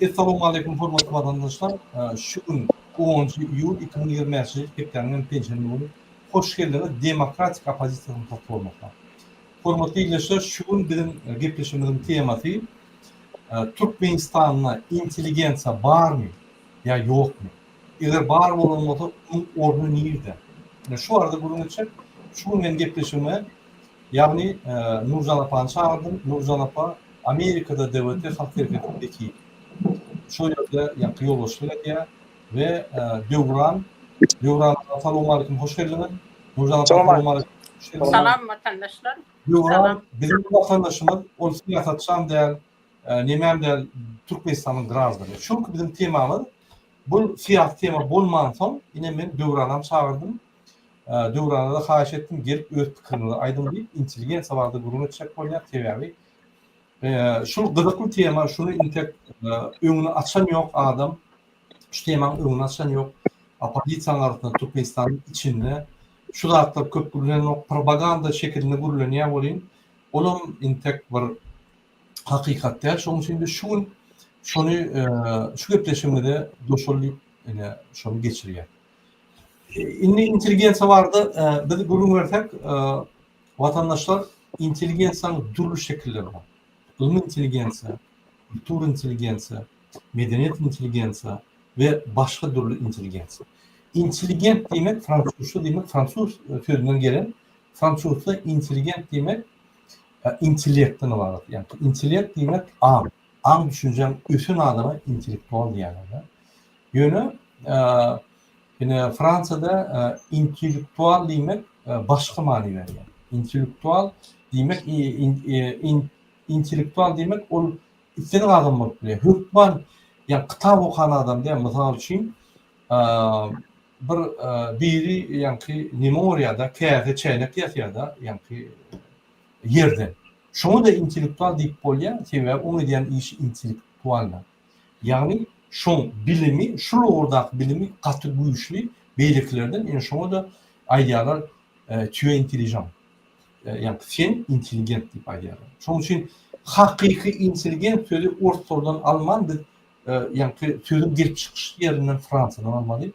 Essalowmaleýkum hormatly watandaşlar! Şu gün onunjy iýul iki müň ýigrimi bäşinji ýyl, hepdäniň hem penşenbe güni hoş geldiňiz demokratik oppozisiýasynyň platformasyna. Hormatly ildeşler, şu gün biziň gepleşigimiziň temasy Türkmenistanda intelligensiýa barmy ýa ýokmy? Eger bar bolan bolsa, onuň orny nirde? Ine şu barada gürrüň etjek. Şu gün men gepleşigime, ýagny Nurjan apany çagyrdym. Nurjan apa Amerikada DWT halk hereketiniň wekili. Şol ýerde ýaňky ýolbaşçylyk edýär we Döwran, Döwran aga salowmalikim hoş geldiňiz. Nurjan aga salowmalikim hoş geldiňiz. Salam watandaşlar. Döwran biziň watandaşymyz, ol syýasatçam däl, nemem däl, Türkmenistanyň grazdany. Şu günki biziň temamyz, bu syýasy tema bolmansoň, ine men Döwranam çagyrdym. Döwranaza haýyş etdim gelip öz pikirinizi aýdyň diýip intelligensiýa barada gürrüň etjek bolýar sebäbi şul gyzykly tema şuny intek öňüni açan ýok adam şu temaň öňüni açan ýok opozisiýanyň arasynda türkmenistanyň içinde şu zatlar köp gürlenok propaganda şekilinde gürlenýär welin olam intek bir hakykat däl şoň üçin biz şu gün şony şu gepleşigimize goşul diýip ine şony geçirýär. Indi intelligensiýa barada e, biz gürrüň bersek, e, watandaşlar intelligensiýanyň dürli şekilleri bar. Ylmy intelligensiýa, kultur intelligensiýa, medeniýet intelligensiýa we başga dürli intelligensiýa. Intelligent diýmek fransuzça diýmek fransuz e, sözünden gelen fransuzça intelligent diýmek e, intellektden ibarat. Ýagny intellekt diýmek aň, aň düşünjäň ösen adama intellektual diýýärler. Ýöne ine Fransiýada intellektual diýmek başga many berýär. Intellektual diýmek intellektual diýmek ol islendik adam bolup bilýär. Hökman ýa kitap okan adam diýär. Mysal üçin bir biri ýaňky nime urýar-da, käse, çäýnek ýasýar-da ýaňky ýerden. Şoňa-da intellektual diýip bolýar, sebäbi oň edýän işi intellektualnyň. Ýagny şoň bilimi şul ugurdaky bilimi gaty güýçli beýlekilerden ýöne şoňada aýdýarlar tu es intelligent ýagny sen intelligent diýip aýdýarlar. Şoň üçin hakyky intelligent sözi oruslardan alman biz ýagny sözüň gelip çykyş ýerinden fransiýadan almaly.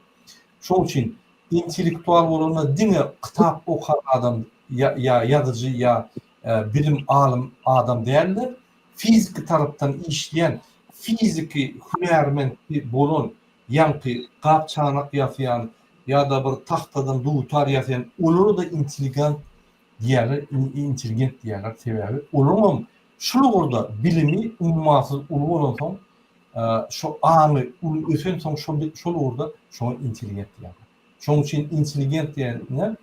Şoň üçin intellektual bolanda diňe kitap okan adam ýa ýazyjy ýa bilim alym adam däldir. fiziki tarapdan işleýän fiziki hünärmentdi bolan ýaňky gap çanak ýasaýan ýada bir tagtadan dutar ýasaýan olarada intiligant diýýärler intelligent diýýärler sebäbi olaňam şul ugurda bilimi ummasyz uly bolansoň şo aňy uly ösensoň şol şol ugurda şoňa intelligent diýýärler Şonuň üçin intelligent diýende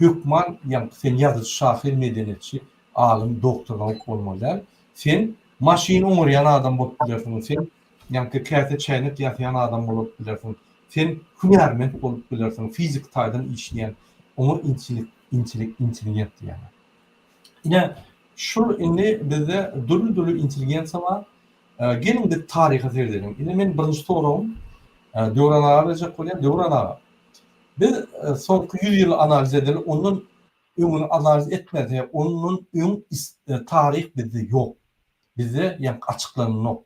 hökman ýa sen ýazyjy, şahyr, medeniýetçi, alym, doktor, nauk bolmaly däl. Sen maşyn oňarýan adam bolup bilersiň, sen ýa-da käse, çäýnek ýasaýan adam bolup bilersiň, sen hünärment bolup bilersiň, fiziki taýdan işleýän, oňa intellikt, intelligent diýýärler. Ine, şol indi bizde dürli-dürli intelligensiýa bar. Geliň biz taryha seredeliň. Indi meniň birinji soragym Döwran aga berjek bolýar. Döwran aga, biz soňky ýüz ýyly analiz edeli, ondan öňüni analiz etmese, ondan öň taryh bizde ýok. Bizde ýaňky açyklanylok.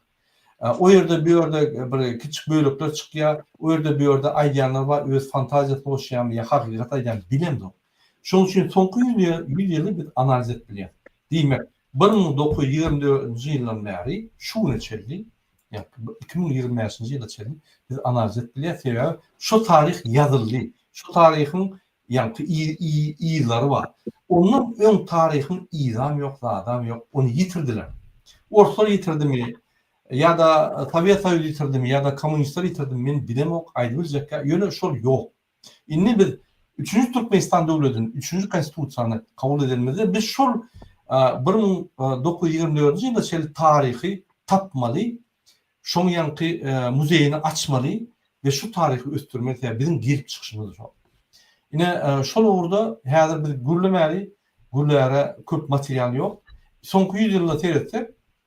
O ýerde, bu ýerde bir kiçi bölekler çykýar. O ýerde, bu ýerde aýdýanlar bar, öz fantaziýasyny goşýarmy ýa hakykat aýdýarmy bilemzok. Şonuň üçin soňky ýüz ýyly biz analiz edip bilýäris. Diýmek, Bir müň dokuz ýüz ýigrimi dördünji ýyldan bäri şu güne çenli, ýa-da iki müň ýigrimi bäşinji ýyla çenli biz analiz edip bilýäris, sebäbi şu taryh ýazyldy. Şu taryhyň ýa-da yzlary bar. Ondan öň taryhyň yzam ýok, zadam ýok, ony ýitirdiler. Orslar ýitirdimi, ýa-da Sowet Soýuzy ýitirdimi, ýa-da kommunistler ýitirdimi men bilemok, aýdybiljekkä, ýöne şol ýok. Indi biz üçünji Türkmenistan döwletini, üçünji Konstitusiýany kabul edenimizde biz şol bir müň dokuz ýüz ýigrimi dördünji ýyla çenli taryhy tapmaly, şoň ýaňky muzeýini açmaly we şu taryhy ösdürmeli, sebäbi biziň gelip çykyşymyz şol. Ine şol ugurda häzir biz gürlemäli, gürläre köp material ýok. Soňky ýüz ýylda seretsek,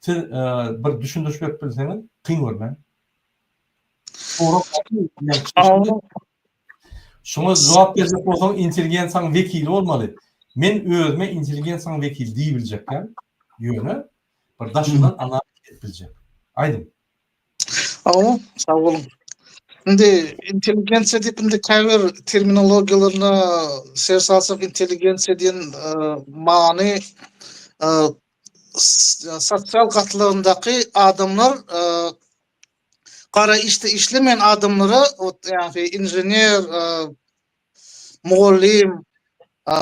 Siz bir düşündiriş berip bilseňiz, kyn görmän. Şuňa jogap berjek bolsaň, intelligensiýaň wekili bolmaly. Men özüme intelligensiýaň wekili diýip biljekkäm, ýöne bir daşyndan analiz edip biljek. Aýdyň. Awa, sag boluň. Indi intelligensiýa diýip indi käbir terminologiýalaryna ser salsak, intelligensiýa diýen many sosial gatlagyndaky adamlar e, gara işte işlemeýän adamlara ýagny inžener, e, mugallym, e,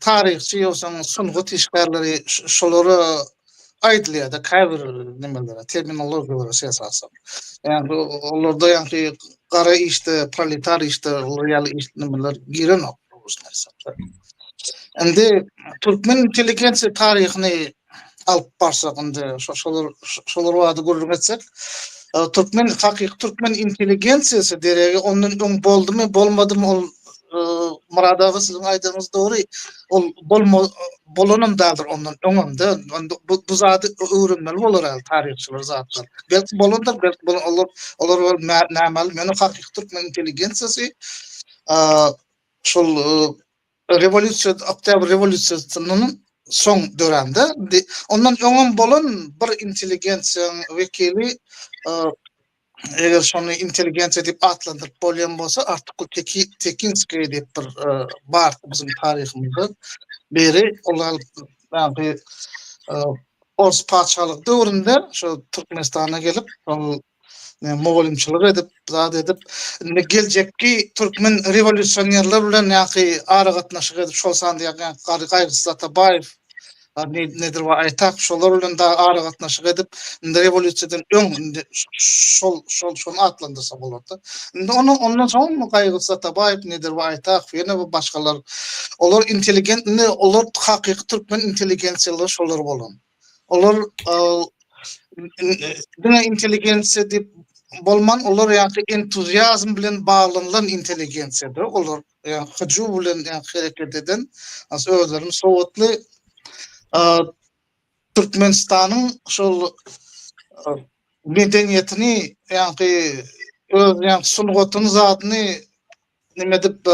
taryhçy ýogsa sungat işgärleri şolara aýdylýar-da käbir nimelere, terminologiýalara şey esasan. Ýagny olarda ýagny gara işte, proletar işte, olar ýaly iş nimeler girenok. Indi türkmen intelligensiýa taryhyny alyp barsak indi şolar şolar barada gürrüň etsek türkmen hakyky türkmen intelligensiýasy deregi ondan öň boldumy bolmadymy ol Murad aga siziň aýdyňyz dogry ol bolma bolanam dagdyr ondan öňemde bu bu zady öwrenmeli bolar al taryhçylar zatlar belki bolandyr belki bolan olar olar nämal meni hakyky türkmen intelligensiýasy A şol rewolýusiýa, oktýabr rewolýusiýasyndan soň dörände, ondan öňem bolan bir intelligensiýanyň wekili, eger şony intelligensiýa diýip atlandyryp bolýan bolsa, Artykul Tekinskiý diýip bir bar biziň taryhymyzda. Biri ol ors patyşalygy döwründe şu Türkmenistana gelip, ol Yani mugallymçylyk edip, zat edip, indi geljekki türkmen rewolýusionerler bilen ýa-ki aragatnaşyk edip, şol sanda ýa-ki Gary Gaýgysyz Atabaýew, indi nedir we Aýtak şolar bilen dagy aragatnaşyk edip, indi rewolýusiýadan öň indi şol şol şony atlandyrsa bolardy. Indi onuň ondan soň Gaýgysyz Atabaýew, nedir we Aýtak, ýene bir başgalar, olar intelligent, indi olar hakyky türkmen intelligensiýalygy şolar bolan. Olar diňe intelligensiýa diýip bolman, olar ýaňky entuziazm bilen baglanylan intelligensiýadyr. Olar ýaňky hyjuw bilen ýaňky hereket eden, özlerini sowatly Türkmenistanyň şol medeniýetini ýaňky öz ýaňky sungatyny zadyny nime diýip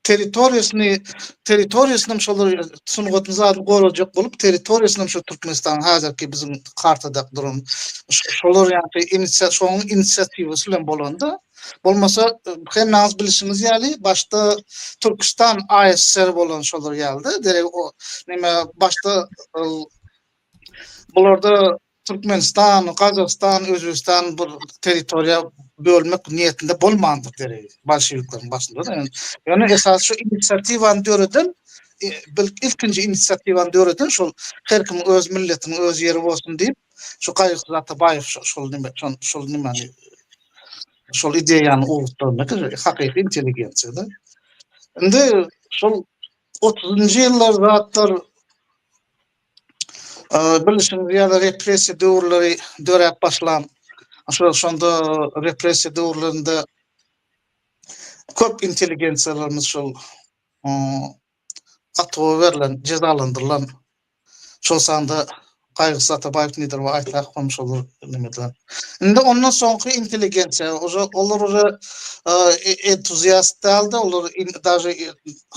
territoriýasyny territoriýasyny şolar sungatyny zady gorajak bolup territoriýasyny şu Türkmenistan hazirki biziň kartada duran şolar ýaly inisiýa şoň inisiatiwasy bilen bolanda bolmasa hem naz bilişimiz ýaly başda Türkistan ASR bolan şolar ýaly derek o nime başda bularda Türkmenistan, Gazagystan, Özbegistan bir territoriýa bölmek niýetinde bolmandyr derek, bolşewikleriň başynda-da. Ýöne esasy şu inisiatiwany döreden, ilkinji inisiatiwany döreden şol her kimiň öz milletiniň öz ýeri bolsun diýip, şu Gaýgysyz Atabaýew şol nime, şol nimani, şol ideýany ugrukdyrandyr, hakyky intelligensiýa-da. Indi şol otuzynjy ýyllar zatlar, Bilşiňiz ýaly repressiýa döwürleri döräp başlan. Şo şonda repressiýa döwürlerinde köp intelligensiýalarymyz şol atuwa berlen, jezalandyrylan. Şol sanda Gaýgysyz Atabaýew nedir we aýtsak hem şolar neme edilen. Indi ondan soňky intelligensiýa, olar uly entuziast däldi, olar daže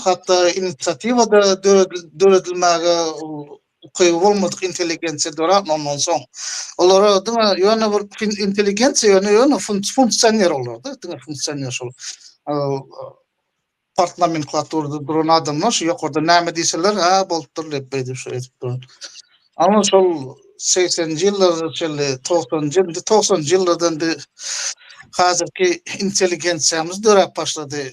hatda inisiatiwa-da döredilmäge ukyby bolmadyk intelligensiýa döräpmandan soň, olara diňe ýöne bir intelligensiýa ýöne ýöne funksioner olarda, diňe funksioner şol part nomenklaturada duran adamlar şu ýokarda näme diýseler, hä bolupdyr diýip beýdip şu edip duran. Ama şol 80-nji ýyllarda şeýle 90-njy indi 90-njy ýyllardan bir häzirki intelligensiýamyz döräp başlady.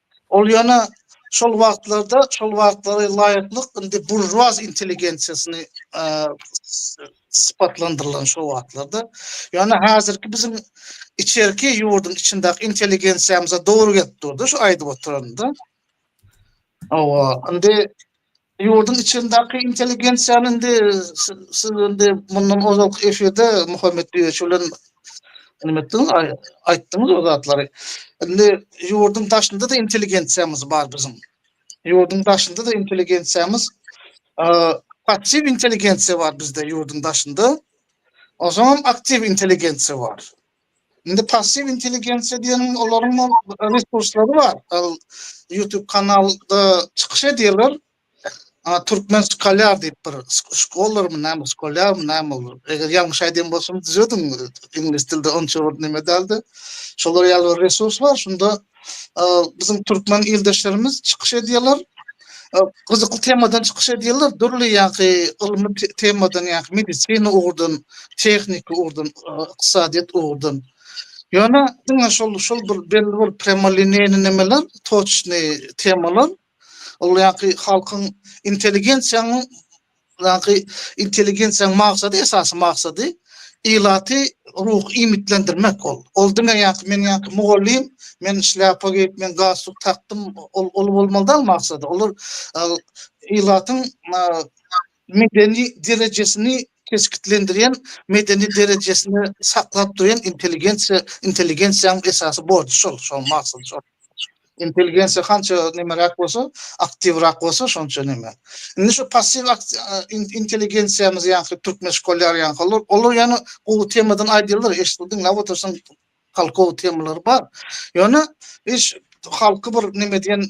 Ol ýene şol wagtlarda, şol wagtlara laýyklyk indi buržuaz intelligensiýasyny sypatlandyrylan şo wagtlarda. Ýöne häzirki biziň içerki ýurduň içindäki intelligensiýamyza dogry gelip durdy şu aýdyp oturanymda. Hawa, indi Ýurduň içindaki intelligensiýany indi siz indi mundan ozalky efirde Muhammet Düýeçi bilen neme etdiňiz, aýtdyňyz o zatlary. Indi ýurduň daşynda-da intelligensiýamyz bar biziň. Ýurduň daşynda-da intelligensiýamyz, passiw intelligensiýa bar bizde ýurduň daşynda. Onsoňam aktiw intelligensiýa bar. Indi passiw intelligensiýa diýen olaryň resurslary bar. YouTube kanalda çykyş edýärler. Türkmen Scholar diýip bir şkolar mı näme, şkolar mı näme ol. Eger ýalňyş aýdýan bolsam düzediň. Iňlis dilde onça bir näme däldi. Şolar ýaly bir resurs bar. Şunda biziň türkmen ildeşlerimiz çykyş edýärler. Gyzykly temadan çykyş edýärler. Dürli ýa-da ylmy temadan, ýa-da medisina ugurdan, tehniki ugurdan, ykdysadyýet ugurdan. Ýöne diňe şol şol bir belli bir premoliniýaly nemeler, toçny temalar. Ol ýaňky halkyň intelligensiýanyň ýaňky intelligensiýanyň maksady esasy maksady ilaty ruh iýmitlendirmek ol. Ol diňe ýaňky men ýaňky mugallym, men şlýapa geýip, men galstuk takdym, ol ol bolmaly däl maksady. Olar ilatyň medeni derejesini kesgitlendirýän, medeni derejesini saklap durýan intelligensiýa, intelligensiýanyň esasy borjy şol, şonuň maksaty şol. Intelligensiýa hança nemeräk bolsa, aktiwrak bolsa, şonça neme. Indi şu passiw intelligensiýamyz ýaňky türkmen şkolýary ýaňky olar, olar ýöne gowy temadan aýdýarlar, eşitip diňläp otursaň halkow temalary bar. Ýöne iş halky bir neme diýen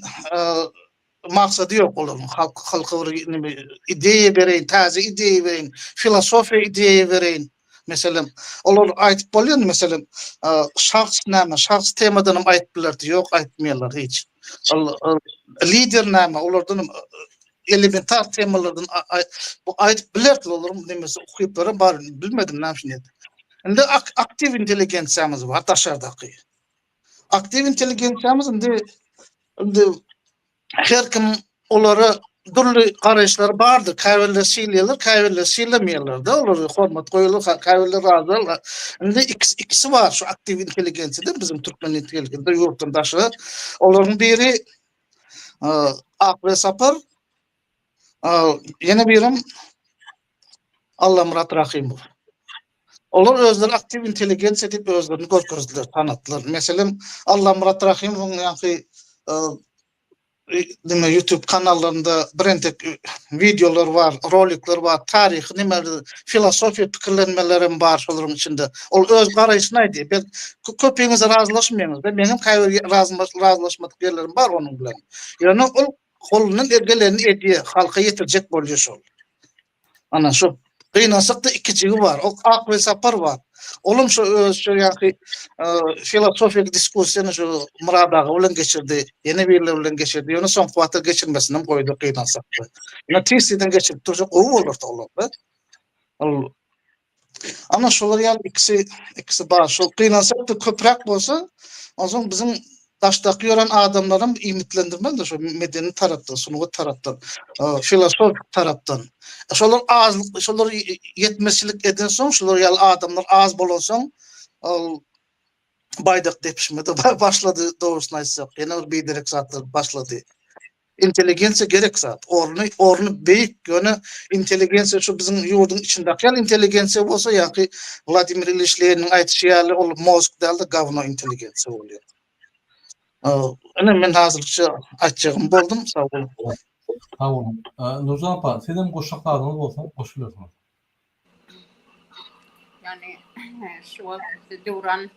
Maksady ýok olaryň halk halka bir neme ideýa bereýin, täze ideýa bereýin, filosofiýa ideýa bereýin. Meselem, olar aýdyp bolýar, meselem, şahs näme, şahs temadan hem aýdyp bilerdi, ýok aýtmaýarlar hiç. Ol lider näme, olardan elementar temalardan bu aýdyp bilerdi, olaryň nemesi ukyplary bar, bilmedim näme üçin. Indi aktiw intelligensiýamyz bar daşardaky. Aktiw intelligensiýamyz indi indi her kim olara dürli garaýyşlary bardyr. Käbirleri sylaýarlar, käbirleri sylamaýarlar-da, olara hormat goýulýar, käbirleri razy. Indi ikisi ikisi bar şu aktiw intelligensiýada biziň türkmen intelligensiýasynda ýurtdan daşary. Olaryň biri Akbere Sapar, ýene birem Allamyrat Rahymow. Olar özleri aktiw intelligensiýa diýip özlerini görkezdiler, tanatdylar. Meselem, Allamyrat Rahymowyň ýaňky neme YouTube kanallarynda birentek wideolar bar, rolikler bar, taryhy neme filosofiýa pikirlenmeler hem bar şolaryň içinde. Ol öz garaýşyny aýdýar. Bel köpiňiz razylaşmaýaňyz. Meň hem käbir razylaşmadyk ýerlerim bar onuň bilen. Ýöne ol Golundan geleni edýä, halka ýetirjek bolýa şol. Ana şu gynansakda iki jigi bar. O Ak we Sapar bar. Olam şu öz şu ýaky filosofik diskussiýany şu Murad aga bilen geçirdi. Ýene birler bilen geçirdi. Ýöne soňky wagtda geçirmesini hem goýdy gynansakda. Ýöne tiz-tizden geçirip dursa gowy bolardy olarda. Ol Ama şolar ýaly ikisi ikisi bar. Şol gynansak da köpräk bolsa, onsoň biziň daşdaky ýören adamlarym iýmitlendirmez-de şu medeni tarapdan, sungat tarapdan, filosofik tarapdan. E, şolar azlyk, şolar ýetmezçilik eden soň, şolar ýaly adamlar az bolan soň, ol baýdak depişme-de başlady, dogrusyny aýtsak. Ýene bir biderek zatlar başlady. Intelligensiýa gerek zat. Orny orny beýik. Ýöne intelligensiýa şu biziň ýurduň içindäki ýaly intelligensiýa bolsa ýa-ki Wladimir Iliç Leniniň aýdyşy ýaly ol mozg däl-de gawno intelligensiýa bolýar. Ine men hazirlikçe aýtjagym boldum. Sag boluň. Sag boluň. Nurjan apa, sizem goşjak zadyňyz bolsa goşup bilersiňiz. Yani şu wagt Döwran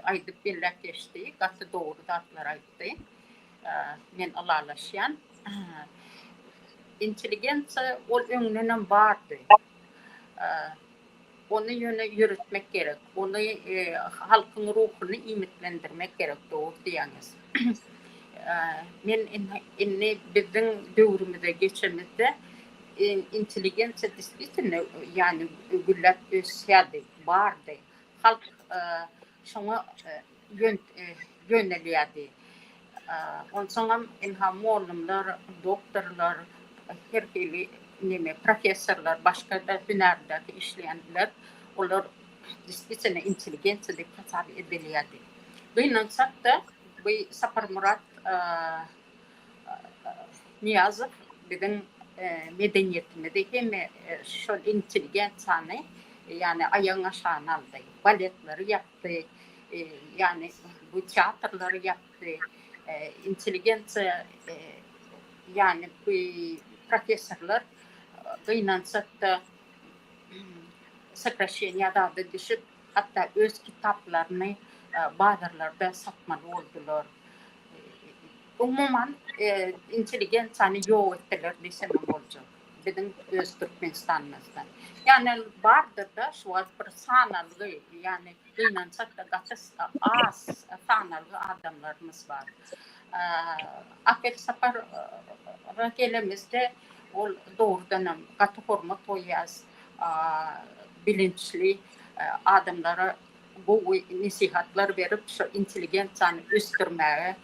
aýdyp belläp geçdi, gaty dogry zatlar aýtdy. Men ylalaşýan. Intelligensiýa ol öňdenem bardy. Ony ýöne ýöretmek gerek. Ony halkyň ruhuny iýmitlendirmek gerek, dogry diýýäňiz. Men indi biziň döwrümize geçemizde intelligensiýa despisitine ýagny gülläp ösýärdi, bardy. Halk Şoňa ýönelýärdi. Onsoňam ynha mollumlar, doktorlar, her hili neme professorlar, başga-da hünärde işleýänler, olar despisine intelligensiýa diýip hasap edilýärdi. Gynansak-da, bu Saparmyrat Nyýazow biziň medeniýetimizi hem şol intelligensiýany, ýagny aýagyň aşagyna aldy. Baletleri ýapdy, ýagny bu teatrlary ýapdy. Intelligensiýa, ýagny bu professorlar gynansak-da, sokraşeniýa zada düşüp, hatda öz kitaplaryny bazarlarda satmaly boldular. Umuman, intelligensiýany ýok etseler diýsem hem boljak. Biziň öz Türkmenistanymyzda. Ýagny bardyr-da şu wagt bir sanalgy, ýagny gynansak-da gaty az sanalgy adamlarymyz bar. Apelsapara gelemizde ol dogrudan hem gaty hormat goýýas, bilinçli adamlara gowy nesihatlar berip, şu intelligensiýany ösdürmäge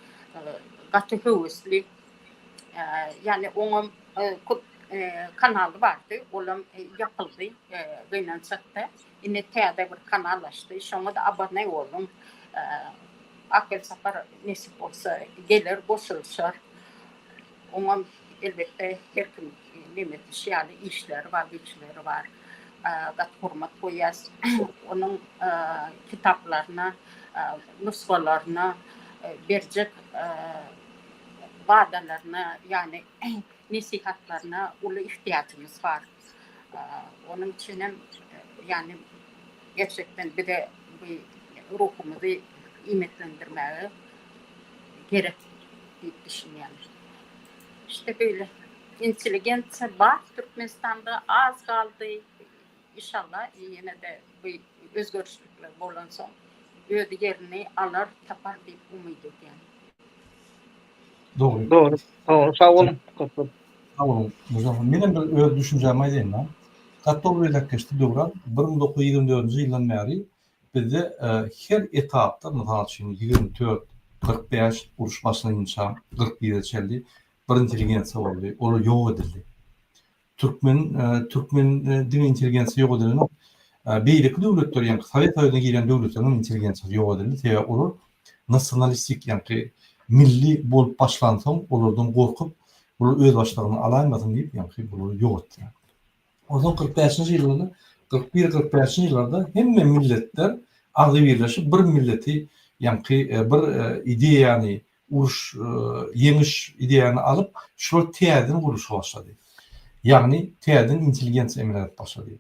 gaty höwesli. Ýagny oňam köp kanaly bardy, olam ýapyldy gynançakda. Indi täze bir kanal açdy, şoňa-da abone boluň. Ak Welsapar nesip bolsa geler, goşulyşar. Oňam elbetde her kim neň etmiş ýaly işleri bar, güýçleri bar. Gaty hormat goýýas. Onuň kitaplaryna, nusgalaryna berjek wadalaryna, ýagny nesihatlaryna uly ihtiýajymyz bar. Onuň üçinem ýagny gerçekden bize bu ruhumyzy iýmitlendirmäge gerek diýip düşünýän. İşte beýle intelligensiýa bar Türkmenistanda az galdy. Inşallah ýene-de bu özgerişlikler bolansoň öz ýerini alar, tapar diýip umyt edýän. Dogry. Dogry. Sag boluň. Köp köp. Sag boluň, Murza aga. Menem bir öz düşünjämi aýdaýyn-da. Gaty dogry belläp geçdi Döwran. Bir müň dokuz ýüz ýigrimi dördünji ýyldan bäri bizde her etapda, mysal üçin, ýigrimi dört, kyrk bäş, uruş başlanyp ençem kyrk bire çenli bir intelligensiýa boldy. Olar ýok edildi. Türkmen türkmen diňe intelligensiýa ýok edilenok. Beýleki döwletler, ýagny Sowet Soýuzyna giren döwletleriň hem intelligensiýasy ýok edildi. Sebäbi olar nasionalistik, ýagny milli bolup başlansoň, olardan gorkup, bular özbaşdagyna alaýmasyn diýip, ýagny bulary ýogartýar. Onsoň kyrk bäşinji ýyllarda, kyrk bir, kyrk bäşinji ýyllarda hemme milletler agzybirleşip, bir milleti, ýagny bir ideýany, uruş, ýeňiş ideýany alyp, şular täzeden gurluşa başlady. Ýagny täzeden intelligensiýa emele gelip başlady.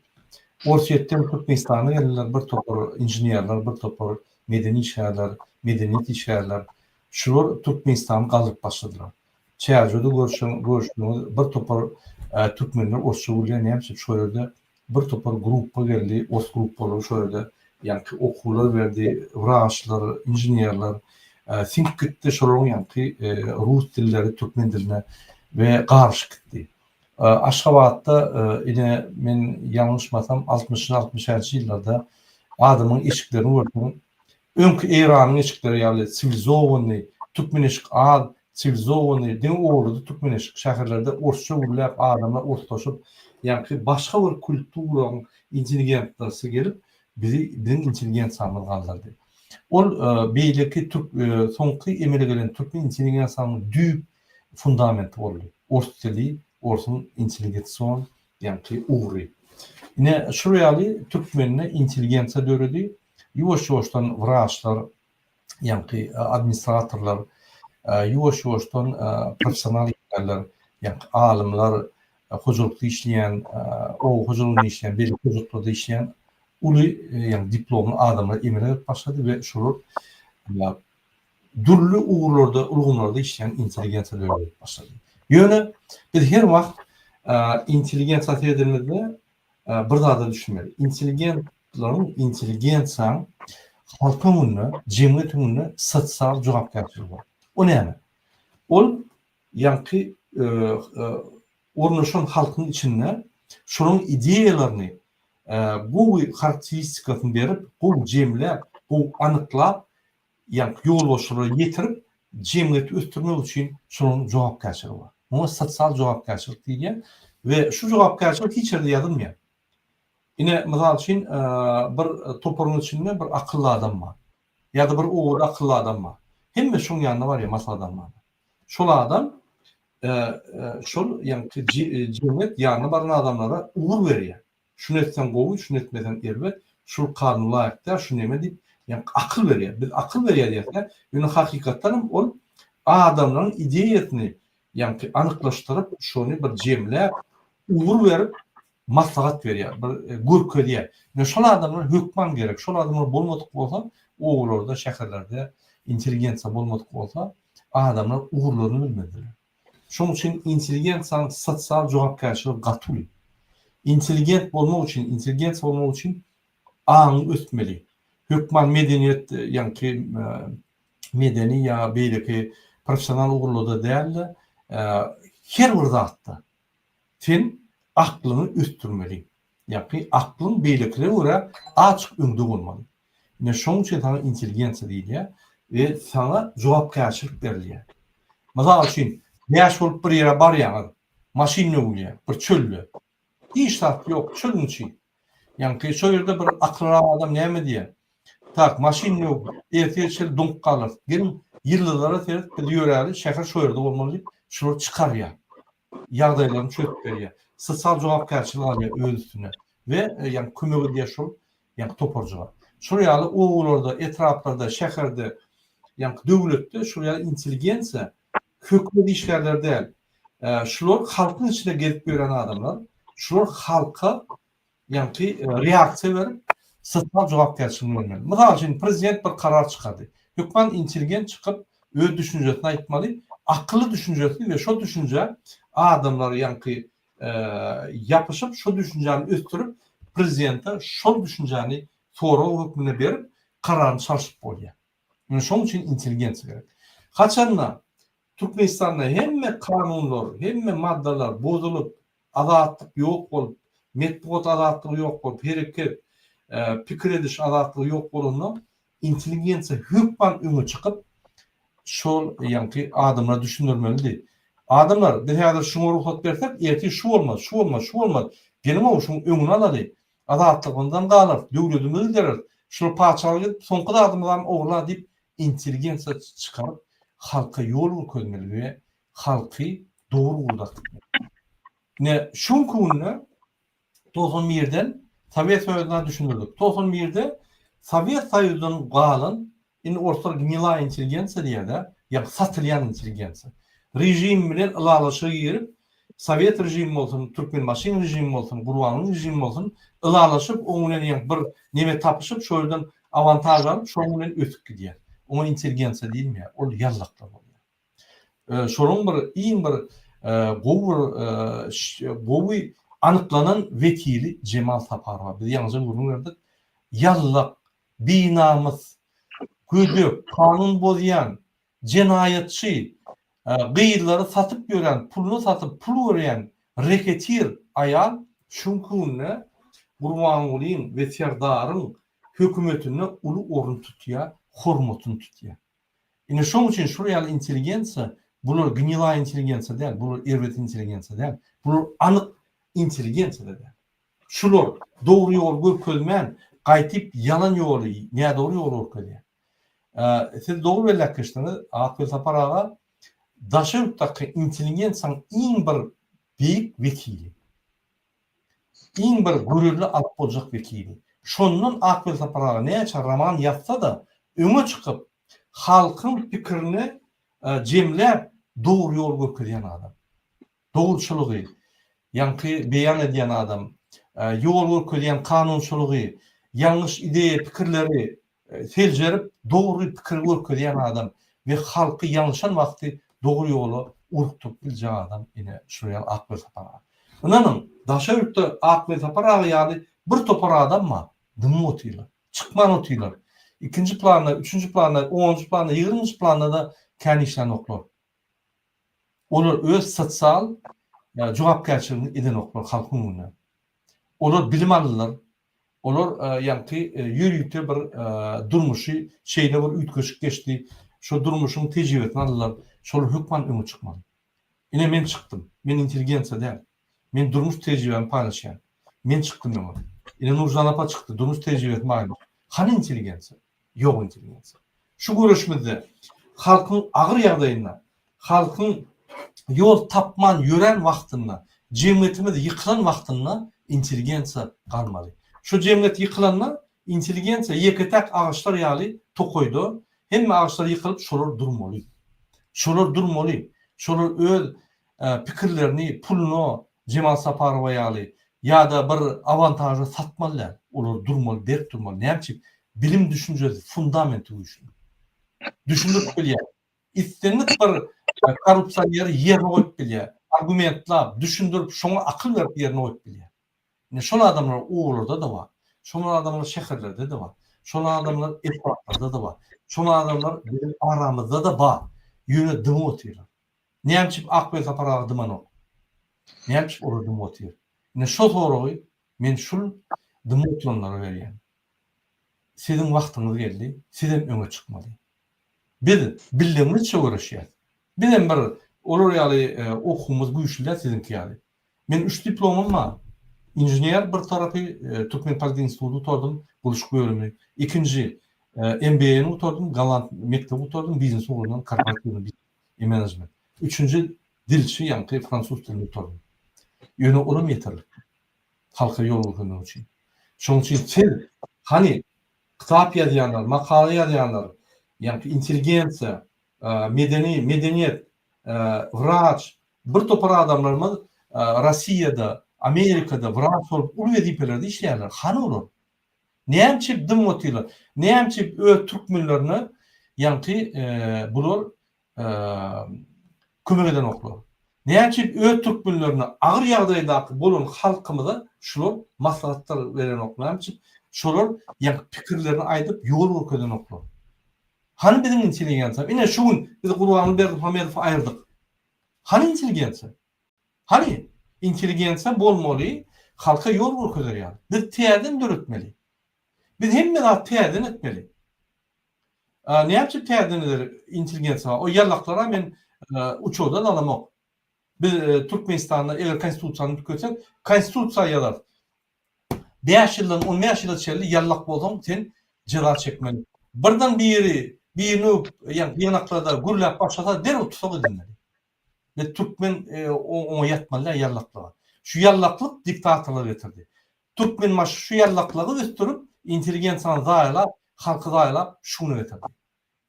Orsýetden Türkmenistana geldiler, bir topar inženerler, bir topar medeni işgärler, medeniýet işgärler, şular Türkmenistany galdyryp başladylar. Çärjewde görşüň, görşüňiz bir topar türkmenler orsça gürleýär, näme üçin? Şo ýerde bir topar gruppa geldi, ors gruppalary şo ýerde ýaňky okuwlar berdi, wraçlar, inženerler, siňip gitdi, şolaryň ýaňky rus dilleri türkmen diline we garyşyp gitdi. Aşgabatda ine men ýalňyşmasam altmyşynjy altmyşänçy ýyllarda adamyň eşiklerini görseň öňki Eýranyň eşikleri ýaly siwilizowanyny türkmen eşik az siwilizowanyny diňe owalada türkmen eşik şäherlerde orsça gürläp adamlar orslaşyp ýaňky başga bir kulturaň intelligentnasy gelip bizi biziň intelligensiýamyz galdyrdy ol beýleki türk soňky emele gelen türkmen intelligensiýanyň düýp fundamenti boldy. Ors dili, orsuň intelligetsion diýenki ugry. Ine, şul ýaly türkmende intelligensiýa döredi. Ýuwaş-ýuwaşdan wraçlar, ýaňky administratorlar, ýuwaş-ýuwaşdan professional işgärler, ýaňky alymlar, hojalykda işleýän, oba hojalygynda işleýän, beýleki hojalyklarda işleýän uly, ýagny diplomly adamlar emele gelip başlady we şolar dürli ugurlarda, ulgamlarda işleýän intelligensiýa döredip başlady. Ýöne biz her wagt intelligensiýa seredemizde bir zada düşünmeli. Intelligentleriň, intelligensiýanyň halk öňünde, jemgyýet öňünde sosial jogapkärçiligi bar. O näme? Ol ýaňky Ornaşan halkyň içinde şonuň ideýalaryny gowy harakteristikasyny berip, gowy jemläp, gowy anyklap, ýa ýolbaşçylara ýetirip, jemgyýeti ösdürmek üçin şolaryň jogapkärçiligi bar. Muňa sosial jogapkärçilik diýilýär we şu jogapkärçilik hiç ýerde ýazylmaýar. Ine, mysal üçin, bir toparyň içinde bir akylly adam bar. Ýa-da bir oba akylly adam bar. Hemme şoň ýanyna barýar maslahat almaga. Şol adam şol ýaňky jemgyýet ýanyna baran adamlara ugur berýär. Şuny etseň gowy, şuny etmeseň erbet, şul kanun laýyk däl, şu neme diýip, ýaňky akyl berýär. Biz akyl berýär diýerkä, ýöne hakykatdan hem ol adamlaryň ideýasyny ýaňky anyklaşdyryp, şony bir jemläp, ugur berip, maslahat berýär, bir görkezýär. Ýöne şol adamlar hökman gerek. Şol adamlar bolmadyk bolsa, obalarda, şäherlerde intelligensiýa bolmadyk bolsa, adamlar ugurlaryny bilmediler. Şonuň üçin intelligensiýanyň sosial jogapkärçiligi gaty uly. Intelligent bolmak üçin, intelligensiýa bolmak üçin aňyň ösmeli. Hökman medeniýet, ýaňky medeni ýa beýleki professional ugurlarda däl-de, her bir zatda sen aklyňy ösdürmeli. Ýaňky aklyň beýlekilere görä azjyk öňde bolmaly. Ine şonuň üçin saňa intelligensiýa diýilýär we saňa jogapkärçilik berilýär. Mysal üçin, bäş bolup bir ýere barýaňyz, maşyn möwülýär bir çölde. Hiç zat ýok, çölüň içi. Ýaňky şo ýerde bir akyllyrak adam näme diýer? Tak, maşyn möwüp, ertir çel doňup galarys. Geliň, ýyldyzlara seret, biz ýöräli, şäher şo ýerde bolmaly diýip, şular çykarýar. ýagdaýlaryny çözüp berýär. Sosial jogapkärçilik alýar öz üstüne we ýagny kömek edýär şol ýagny toparjyga. Şol ýaly obalarda, etraplarda, şäherde ýagny döwletde şol ýaly intelligensiýa hökümet işgärleri däl. Şular halkyň içine gezip ýören adamlar. Şular halka ýaňky reaksiýa berip, sosial jogapkärçiligini görmeli. Mysal üçin, prezident bir karar çykardy. Hökman intelligent çykyp, öz düşünjesini aýtmaly, akylly düşünjesi we şo düşünjä adamlar ýaňky ýapyşyp, şo düşünjäni ösdürip, prezidente şol düşünjäni sorag hökmünde berip, kararyny çalşyp bolýar. Ine, şonuň üçin intelligensiýa gerek. Haçanda Türkmenistanda hemme kanunlar, hemme maddalar bozulyp, Azatlyk ýok bolup, metbugat azatlygy ýok bolup, hereket, pikir ediş azatlygy ýok bolanda, intelligensiýa hökman öňe çykyp, şol ýaňky adamlara düşündirmelidi. Adamlar, biz häzir şuňa rugsat bersek, ertir şu bolmaz, şu bolmaz, şu bolmaz. Geliň-ow, şuň öňüni alaly. Azatlygymyzam galar, döwledimizi gideris. Şular paçalyga gidip, soňky zadymyzam ogurlar diýip, intelligensiýa çykaryp, halka ýol görkezmeli we halky dogry gurdatdylar. Ine, şu günki günde Tosun Mirden Sowet Soýuzyna düşündirdik. Tosun Mirde Sowet Soýuzdan galan, indi orslar gnilaya intelligensiýa diýýärler, ýa satylýan intelligensiýa. Režim bilen ylalaşyga girip, sowet režimi bolsun, türkmenbaşyň režimi bolsun, gurbanyň režimi bolsun, ylalaşyp, oň bilen ýa bir neme tapyşyp, şol ýerden awantaž alyp, şonuň bilen ösüp gidýär. Oňa intelligensiýa diýilmeýär, ol ýallaklar bolýar. şolaryň bir iň bir gowy bir gowy anyklanan wekili Jemal Saparowa biz ýaňyja gürrüň berdik. Ýallak, binamys, gödek, kanun bozýan, jenaýatçy, gyzlary satyp ýören, puluna satyp pul görýän reketir aýal şu günde Gurbangulyň we Serdaryň hökümetinde uly orun tutýar, hormatyny tutýar. Ine şoň üçin şul ýaly intelligensiýa, bular gnilaý intelligensiýa däl, bular erbet intelligensiýa däl, bular anyk intelligensiýa-da däl. Şular dogry ýoly görkezmän, gaýtyp ýalan ýoly, nädogry ýoly görkezýär. Siz dogry belläp geçdiňiz, Akgöz Sapar aga, daşary ýurtdaky intelligensiýanyň iň bir beýik wekili. Iň bir görelde alyp boljak wekili. Şondan Akbil Sapar aga näçe roman ýazsa-da, öňe çykyp, halkyň pikirini jemläp, dogry ýol görkezýän adam. Dogruçylygy ýaňky beýan edýän adam. Ýol görkezýän kanunçylygy, ýalňyş ideýa pikirleri Seljerip dogry pikiri görkezýän adam we halky ýalňyşan wagty dogry ýola urukdyryp biljek adam ine şular ýaly Akbelsapar aga. Ynanyň, Daşöýükde Akbelsapar aga ýaly bir topar adam bar, dymyp otyrlar, çykman otyrlar. Ikinji planda, üçünji planda, onunjy planda, ýigriminji planda-da kän işlänoklar. Olar öz sosial jogapkärçiligini edenoklar halkyň öňünde. Olar bilim aldylar, Olar ýaňky ýörite bir durmuşy şeýle bir üýtgeşik geçdi, şo durmuşyň tejribesini aldylar, şol hökman öňe çykmaly. Ine men çykdym, men intelligensiýa däl, men durmuş tejribämi paýlaşýan, men çykdym öňe. Ine Nurjan apa çykdy, durmuş tejribesi baýmy? Hany intelligensiýa? ýok edilýän sak. Şu göreşimizde halkyň agyr ýagdaýynda, halkyň ýol tapman ýören wagtynda, jemgyýetimiz ýykylan wagtynda intelligensiýa galmaly. Şu jemgyýet ýykylanda intelligensiýa ýeke-täk agaçlar ýaly tokaýda hemme agaçlar ýykylyp şolar durmaly. Şolar durmaly. Şolar öz pikirlerini puluna Jemal Saparowa ýaly ýada bir awantaža satmaly däl. Olar durmaly, berk durmaly. Näme üçin? Bilim düşünjesi fundamenti güýçli. Düşündirip bilýär. Islendik bir korrupsioneri ýerine goýup bilýär. Argumentlap, düşündirip, şoňa akyl berip ýerine goýup bilýär. Ine şol adamlar obalarda-da bar. Şol adamlar şäherlerde-de bar. Şol adamlar etraplarda-da bar. Şol adamlar biziň aramyzda-da bar. Ýöne dymyp otyrlar. Nämçip Akbel Sapar aga dymanok? Nämçip olar dymyp otyr? Ine şo soragy men şul dymyp oturanlara berýän. Siziň wagtyňyz geldi, sizem öňe çykmaly. Biz billeňňizçe göreşýäs. Bizem bir olar ýaly okuwymyz güýçli däl siziňki ýaly. Men üç diplomym bar. Inžener bir tarapy Türkmenpolitehinistudy gutardym, gurluşyk bölümi. Ikinji MBA-ni gutardym, Galand mekdebi gutardym, biznes ugrundan, korporatiwnyý biznes. et management. Üçünji dilçi ýaňky fransuz dilini gutaryň. Ýöne olam ýeterlik. Halka ýol görkezmek üçin. Şoň üçin siz hany kitap ýazýanlar, makala ýazýanlar, ýaňky intelligensiýa, medeni, medeniýet, wraç, bir topar adamlarymyz Rossiýada, Amerikada wraç bolup uly wezipelerde işleýärler. Hany olar? Näme üçin dymyp otyrlar? Näme üçin öz türkmenlerine ýaňky bular kömek edenoklar? Näme üçin öz türkmenlerine agyr ýagdaýdaky bolan halkymyza şular maslahatlar berenoklar? Näme üçin şolar ýaňky pikirlerini aýdyp ýol görkezenoklar? Hany biziň intelligensiýa? Ine şu gün biz Gurbanguly Berdimuhamedowy aýyrdyk. Hany intelligensiýa? Hany, intelligensiýa bolmaly, halka ýol görkezer ýaly. Biz täzeden döretmeli. Biz hemme zat täzeden etmeli. A näçe täzeden eder intelligensiýa? O ýallaklara men uçurda dalamok. Biz Türkmenistanda eger konstitusiýany üýtgetsek, konstitusiýa ýazarys. Bäş ýyldan on bäş ýyla çenli ýallak bolsaň, sen jeza çekmeli. Birden biri birini öwüp, ýa ýygnaklarda gürläp başlasa, derrew tussag edilmeli. Biz türkmen oňa ýatmaly däl ýallaklyga. Şu ýallaklyk diktatorlyga getirdi. Türkmenbaşy şu ýallaklygy ösdürip, intelligensiýany zaýalap, halky zaýalap şu güne getirdi.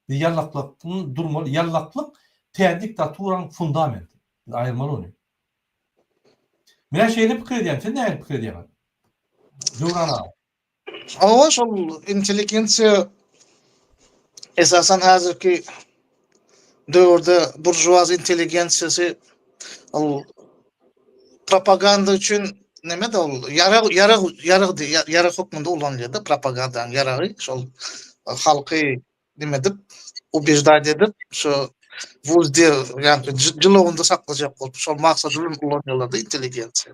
Biz ýallaklygyň durmaly, ýallaklyk täze diktaturanyň fundamenti. Biz aýyrmaly ony. Menä şeýle pikir edýän, siz nähili pikir edýäňiz? Döwran aga. Hawa, şol intelligensiýa esasan häzirki döwürde buržuaz intelligensiýasy ol propaganda üçin neme-de ol ýarag ýarag ýarag diýýär, ýarag hökmünde ulanylýar-da propagandanyň ýaragy şol halky nime edip, ubejdat edip, şu wulde ýa-da jylawynda saklajak bolup, şol maksat bilen ulanýarlar-da intelligensiýa.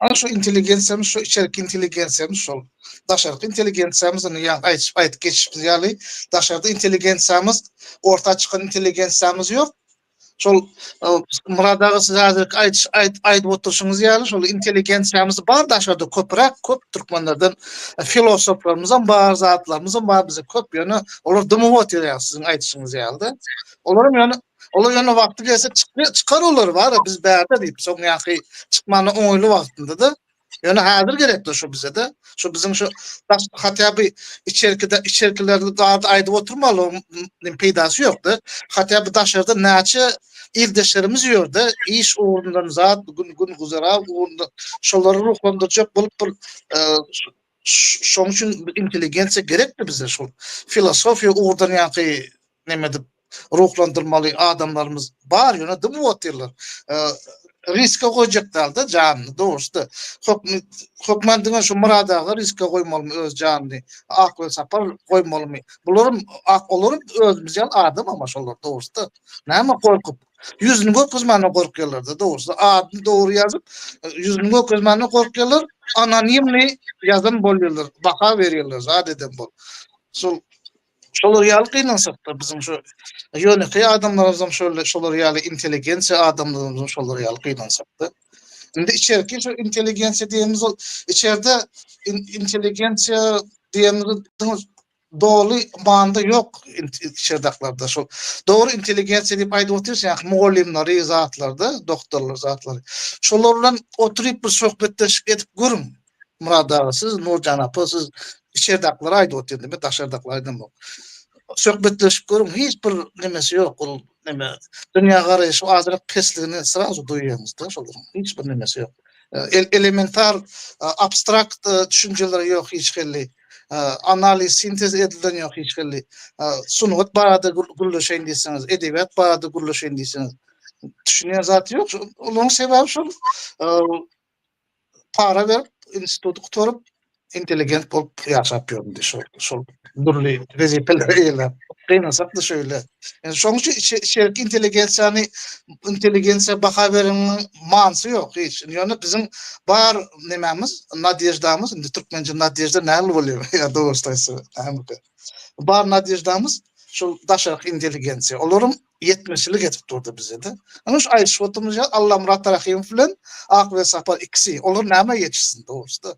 Ana şu intelligensiýamyz, şu içerki intelligensiýamyz şol. Daşarky intelligensiýamyz indi ýa aýdyp geçişimiz ýaly, daşarda intelligensiýamyz, orta çykan intelligensiýamyz ýok, Şol Murad aga siz häzir aýdyş aýdyp oturyşyňyz ýaly şol intelligensiýamyz bar daşarda köpräk köp türkmenlerden e, filosoflarymyzam bar, zatlarymyzam bar bize köp ýöne olar dymyp oturýar siziň aýdyşyňyz ýaly. Olaram ýöne Olar ýöne wagty gelse çykar olar bar biz bärde diýip soň ýaňky çykmana oňaýly wagtynda da Ýöne häzir gerekli şu bizede, şu biziň şu daş hatda bir içerkide içerkilerini barda aýdyp oturmaly, nim peýdasy ýokdy. Hatda bir daşarda näçe ildeşlerimiz ýörde, iş ugrundan zat, gün gün guzara ugrunda şolary ruhlandyrjak bolup bir e, Şoň üçin intelligensiýa gerekdi bize şu filosofiýa ugurdan ýaňky näme edip ruhlandyrmaly adamlarymyz bar ýöne dym otyrlar. Riske goýjak dalda janyny dogrusu-da. Hökm hökman diňe şu Murad aga riske goýmalymy öz janyny, Ak Welsapar goýmalymy? Bularam ak olaram özümiz ýaly adam ama şolar dogrusu-da. Näme gorkup? Ýüzüni görkezmäne gorkýarlar-da dogrusy. Adyny dogry ýazyp, ýüzüni görkezmäne gorkýarlar, anonimni ýazan bolýarlar, baha berýärler zat eden bolup. Şol şolar ýaly gynansak-da biziň şu ýönekeý adamlarymyzam şöyle şolar ýaly intelligensiýa adamlarymyzam şolar ýaly gynansak-da. Indi içerki şu intelligensiýa diýenimiz ol içerde intelligensiýa diýenimiz doly manyda ýok çerdaklarda şol dogry intelligensiýa diýip aýdyp otyrys ýa mugallymlary zatlarda doktorlar zatlary şolar bilen oturyp bir söhbetdeşlik edip görüň Murad aga siz Nurjan apa siz içerdaklara aýdyp otyryn men daşardaklara aýdamok söhbetdeşip görüň hiç bir nemesi ýok ol neme dünýä garaýşy azyrak pesligini srazu duýýaňyzda şolaryň hiç bir nemesi ýok elementar abstrakt düşünjeleri ýok hiç hili analiz, sintez edilen ýok hiç hili. Sungat barada gürleşeýin diýseňiz, edebiýat barada gürleşeýin diýseňiz, düşünýän zat ýok. Onuň sebäbi şol para berip, instituty gutaryp, intelligent bolup ýaşap ýöründi şol, şol dürli wezipeleri eýeläp. Gynansakda şeýle. Yani şoň üçin içe, içerki intelligensiýany intelligensiýa baha bereniň manysy ýok hiç. Ýöne biziň bar nämämiz, nadýeždamyz, indi türkmençe nadýežda näme bolýar? Ýa dogrusyny aýtsak, nämedir. Bar nadýeždamyz şol daşarky intelligensiýa. Olaryň ýetmezçilik edip durdy bizede. Ana şu aýdyşyp oturmyş ýa Allamyrat Rahymow bilen Akbilen Sapar ikisi. Olar näme ýetişsin dogrusyda?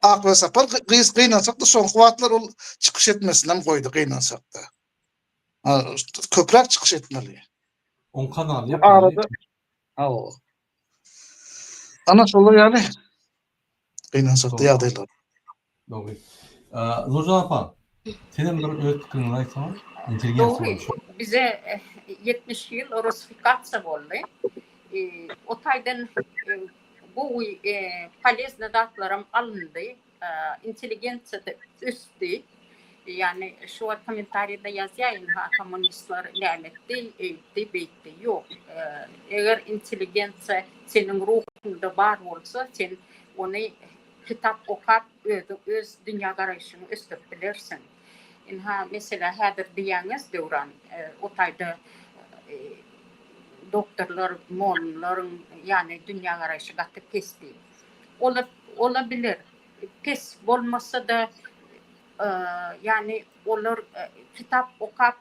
Aklyga sapar gyz gynansakda soňky wagtlar ol çykyş etmesinem goýdy gynansakda. Köpräk çykyş etmeli. Oň kanaly ýapyldy. Hawa. Ana şolar ýaly gynansakda ýagdaýlar. Dogry. Nurjan apa, Sizem bir öz pikiriňizi aýtsaňyz, intelligent Dogry, suwalçy. bize ýetmiş ýyl russifikasiýa boldy. O taýdan gowy, poleznyý zatlaram alyndy. Intelligensiýa-da ösdi. Ýagny, şu wagt kommentariýada ýazýar, ynha, kommunistler nämetdi, eýtdi, beýtdi. Ýok, eger intelligensiýa seniň ruhuňda bar bolsa, sen ony kitap okap, Özüň öz dünýä garaýşyňy ösdürip bilersiň. Ynha, meselä häzir diýýäňiz Döwran, o taýda doktorlar, mollalaryň ýany dünýä garaýşy gaty pes diýip. Olar ola biler. Pes bolmasa-da, ýany olar kitap okap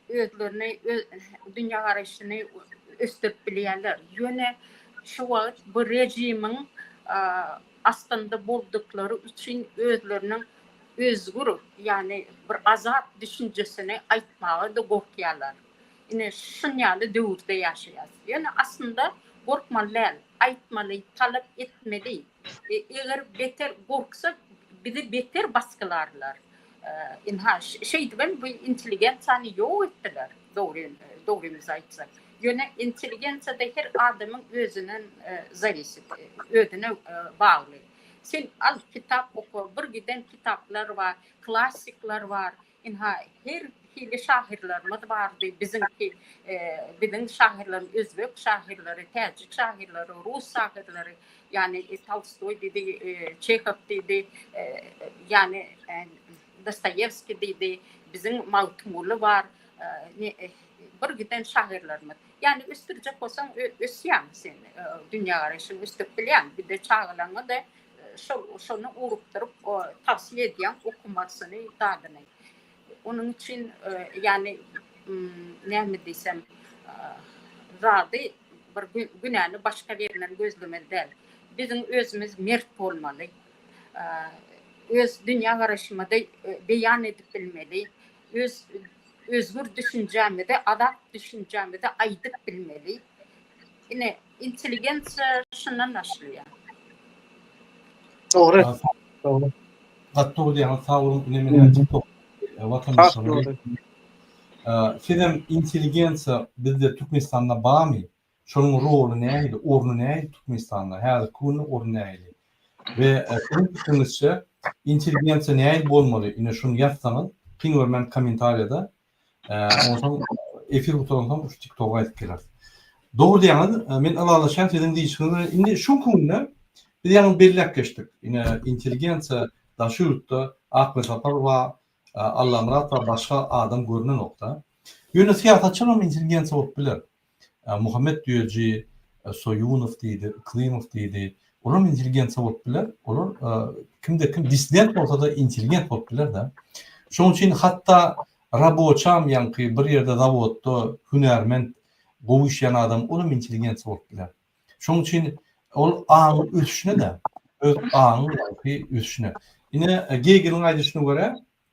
özlerini öz dünýä garaýşyny ösdürip bilýärler. Ýöne şu wagt bu režimiň astynda bolduklary üçin özleriniň özgür, ýagny bir azat düşünjesini aýtmaga-da gorkýarlar. Ine, şuň ýaly döwürde ýaşaýarys. Ýöne aslynda gorkmaly däl, aýtmaly, talap etmeli. Eger beter gorksa bizi beter basgylarlar. Ynha şeýdibem bu intelligensiýany ýok etdiler. Dogry dogrymyzy aýtsak. Ýöne intelligensiýada her adamyň özünden zawisip, özüne bagly. Sen al kitap oka, bir giden kitaplar bar, klassikler bar. Ynha, her hili şahyrlarymyz bardy. Biziňki, biziň şahyrlarymyz, özbek şahyrlary, täjik şahyrlary, rus şahyrlary, ýagny Tolstoý diýdi, Çehow diýdi, ýagny Dostoýewskiý diýdi, biziň Magtymguly bar, bir giden şahyrlarymyz. Ýagny ösdürjek bolsaň, ösýäň sen, dünýägaraýşyňy ösdürip bilýäň. Bir-de çagalaňa-da Şol şony urupdyryp o tawsiýe edýän okumasyny zadyny. Onuň üçin ýany näme diýsem zady bir günäni başga birinden gözlemeli däl. Biziň özümiz mert bolmaly. Öz dünýä garaşymyzy beýan edip bilmeli. Öz özgür düşünjämizi, azat düşünjämizi aýdyp bilmeli. Ine, intelligensiýa şundan başlaýar. Dogry. Dogry. Gat dogry diýýäňiz, sag boluň. Ine men hem TikTok watandaşymyz. Sizem intelligensiýa bizde Türkmenistanda barmy? Şonuň roly nähili, orny nähili Türkmenistanda? Häzirki günde orny nähili? We siziň pikiňizçe intelligensiýa nähili bolmaly? Ine şuny ýazsaňyz, hiň görmän kommentariýada Onsoň efir gutaranyňsoň şu TikToga aýdyp geler. Dogry diýýäňiz, men ylalaşýan siziň diýişiňiz bilen. Indi şu günde biz ýaňy belläp geçdik. Ine intelligensiýa daşy ýurtda Akmyrsapar we Allamyrat we başga adam görnenokda. Ýöne syýasatçylaram intelligensiýa bolup biler. Muhammet Düýeji, Soýunow diýdi, Yklymow diýdi. Olam intelligensiýa bolup biler. Olar kimde kim dissident bolsa-da intelligent bolup biler-de. Şonuň üçin hatda raboçam ýaňky bir ýerde zawodda hünärment gowy işleýän adam olam intelligensiýa bolup biler. Şonuň üçin ol aň ösüşine-de, öz aň ösüşine. Ine Gegeliň aýdyşyna görä,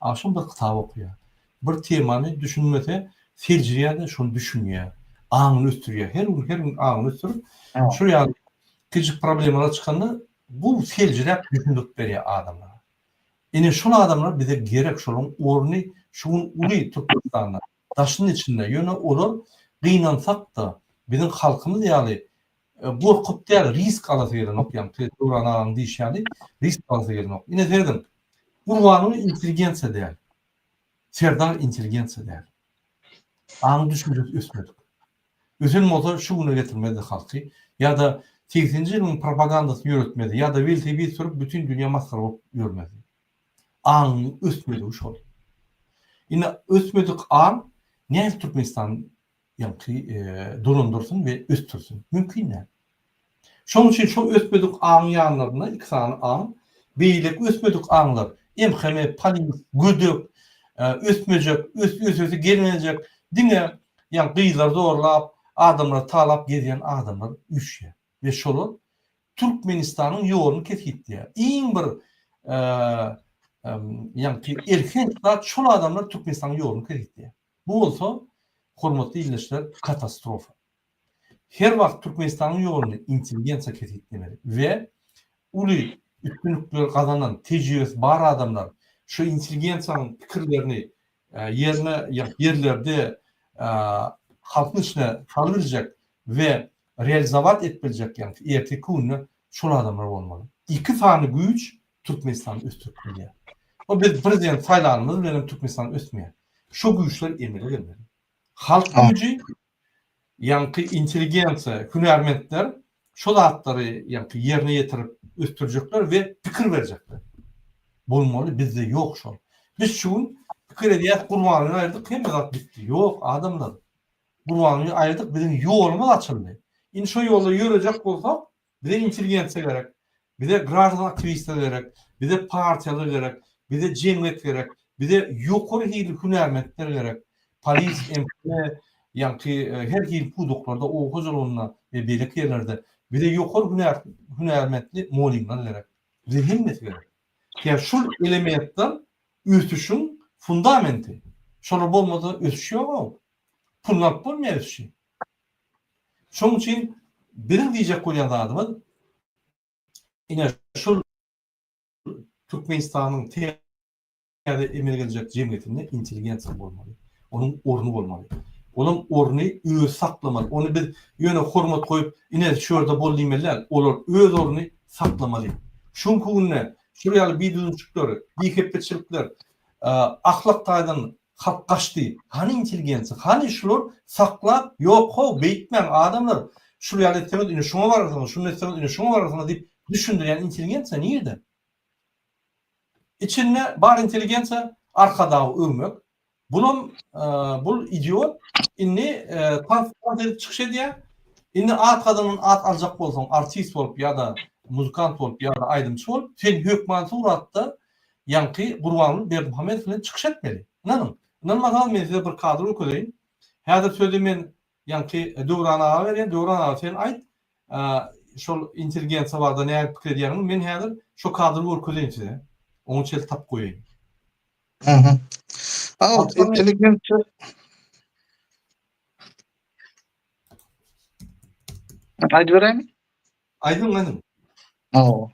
Agşam bir kitap okaýar. Bir temany düşünmese, seljerýär-de, şony düşünýär. Aňyny ösdürýär. Her gün, her gün aňyny ösdürip, şol ýaly kiçijik problemalar çykanda, bu seljeräp düşündirip berýär adama. Ine, şol adamlar bize gerek, şolaryň orny şu gün uly Türkmenistanda, daşynda-içinde. Ýöne olar gynansak-da, biziň halkymyz ýaly Gorkup däl risk alasy gelenok ýaňy tüwet Döwran agaň diýişi ýaly risk alasy gelenok. Ine serediň Gurbanyň intelligensiýa däl. Serdar intelligensiýa däl. Aň düşünjesi ösmedik. Ösen bolsa şu güne getirmezdi halky ýa-da segsenji ýylyň propagandasyny ýöretmezdi ýa-da welosiped sürüp bütin dünýä masgara bolup ýörmezdi. Aňyň ösmedigi şol. Ine ösmedik aň nädip Türkmenistany ýagty dolandyrysyn we ösdürsin? Mümkin däl. Şonuň üçin şol ösmedik aňyň ýanlarynda iki sany aň, beýleki ösmedik aňlar, emheme, polis, gödek, ösmejek, ösesi gelmejek, diňe ýagny gyzlary zorlap, adamlary talap gezýän adamlar üýşýär we şolar Türkmenistanyň ýoluny kesgitleýär. Iň bir ýagty elhenç zat şol adamlar Türkmenistanyň ýoluny kesgitleýär. Bu bolsa, hormatly ildeşler, katastrofa. Her wagt Türkmenistanyň ýoluny intelligensiýa kesgitlemeli we uly üstünlikleri gazanan, tejribesi bar adamlar şu intelligensiýanyň pikirlerini ýerine ýerlerde halkyň içine salyberjek we realizowat edip biljek, ýagny erteki gününe şol adamlar bolmaly. Iki sany güýç Türkmenistan ösdürip bilýär. Bu biz prezident saýlanymyz bilen Türkmenistan ösmeýär. Şu güýçler emele gelmeli. Halk güýji, ýaňky intelligensiýa, hünärmentler şu zatlary ýaňky ýerine ýetirip ösdürjekler we pikir berjekler. Bolmaly bizde ýok şol. Biz şu gün pikir edýäs Gurbanguly aýyrdyk hemme zat bitdi. Ýok adamlar. Gurbanguly aýyrdyk biziň ýolumyz açyldy. Indi şu ýolda ýörejek bolsak Bize intelligensiýa gerek, bize graždan aktiwistler gerek, bize partiýalar gerek, bize jemgyýet gerek, bize ýokary hilli hünärmentler gerek, polis, MHM, ýaňky her hili pudaklarda, oba hojalygynda we beýleki ýerlerde bize ýokary hünär hünärmentli mugallymlar gerek. Bize hemmesi gerek. Sebäbi şul elementler ösüşiň fundamenti. Şolar bolmasa ösüş ýog-ow. Pul alyp bolmaýar ösüşi. Şonuň üçin biziň diýjek bolýan zadymyz ine şul Türkmenistanyň täze emele geljek jemgyýetinde intelligensiýa bolmaly. Onuň orny bolmaly. Onuň orny özi saklamaly. Ony biz ýöne hormat goýup, ine şu ýerde bol diýmeli däl. Olar öz orny saklamaly. Şu günki günde şular ýaly bidüzgünçilikler, bihepbeçilikler ahlak taýdan Halk gaçdy. Hany intelligensiýa? Hany şular saklap, ýok how, beýtmäň adamlar, şul ýaly etseňiz ine şuňa bararsyňyz, şuny etseňiz ine şuňa bararsyňyz diýip düşündirýän intelligensiýa nirde? Içinde bar intelligensiýa Arkadagy öwmek. Bulam bul idiot indi tans mans edip çykyş edýär. Indi at gadyndan at aljak bolsaň artist bolup ýa-da muzykant bolup ýa-da aýdymçy bolup sen hökman suratda Ýaňky Gurbanguly Berdimuhamedow bilen çykyş etmeli. Ynanyň, ynanmasaňyz men size bir kadr görkezeýin. Häzir sözi men ýaňky Döwran aga berýän. Döwran aga sen aýt, şol intelligensiýa barada nähili pikir edýäňiz? Men häzir şo kadry görkezeýin size. Oňa çel tapyp goýaýyn. Aýdyberäými? Aýdyň aýdyň. Hawa.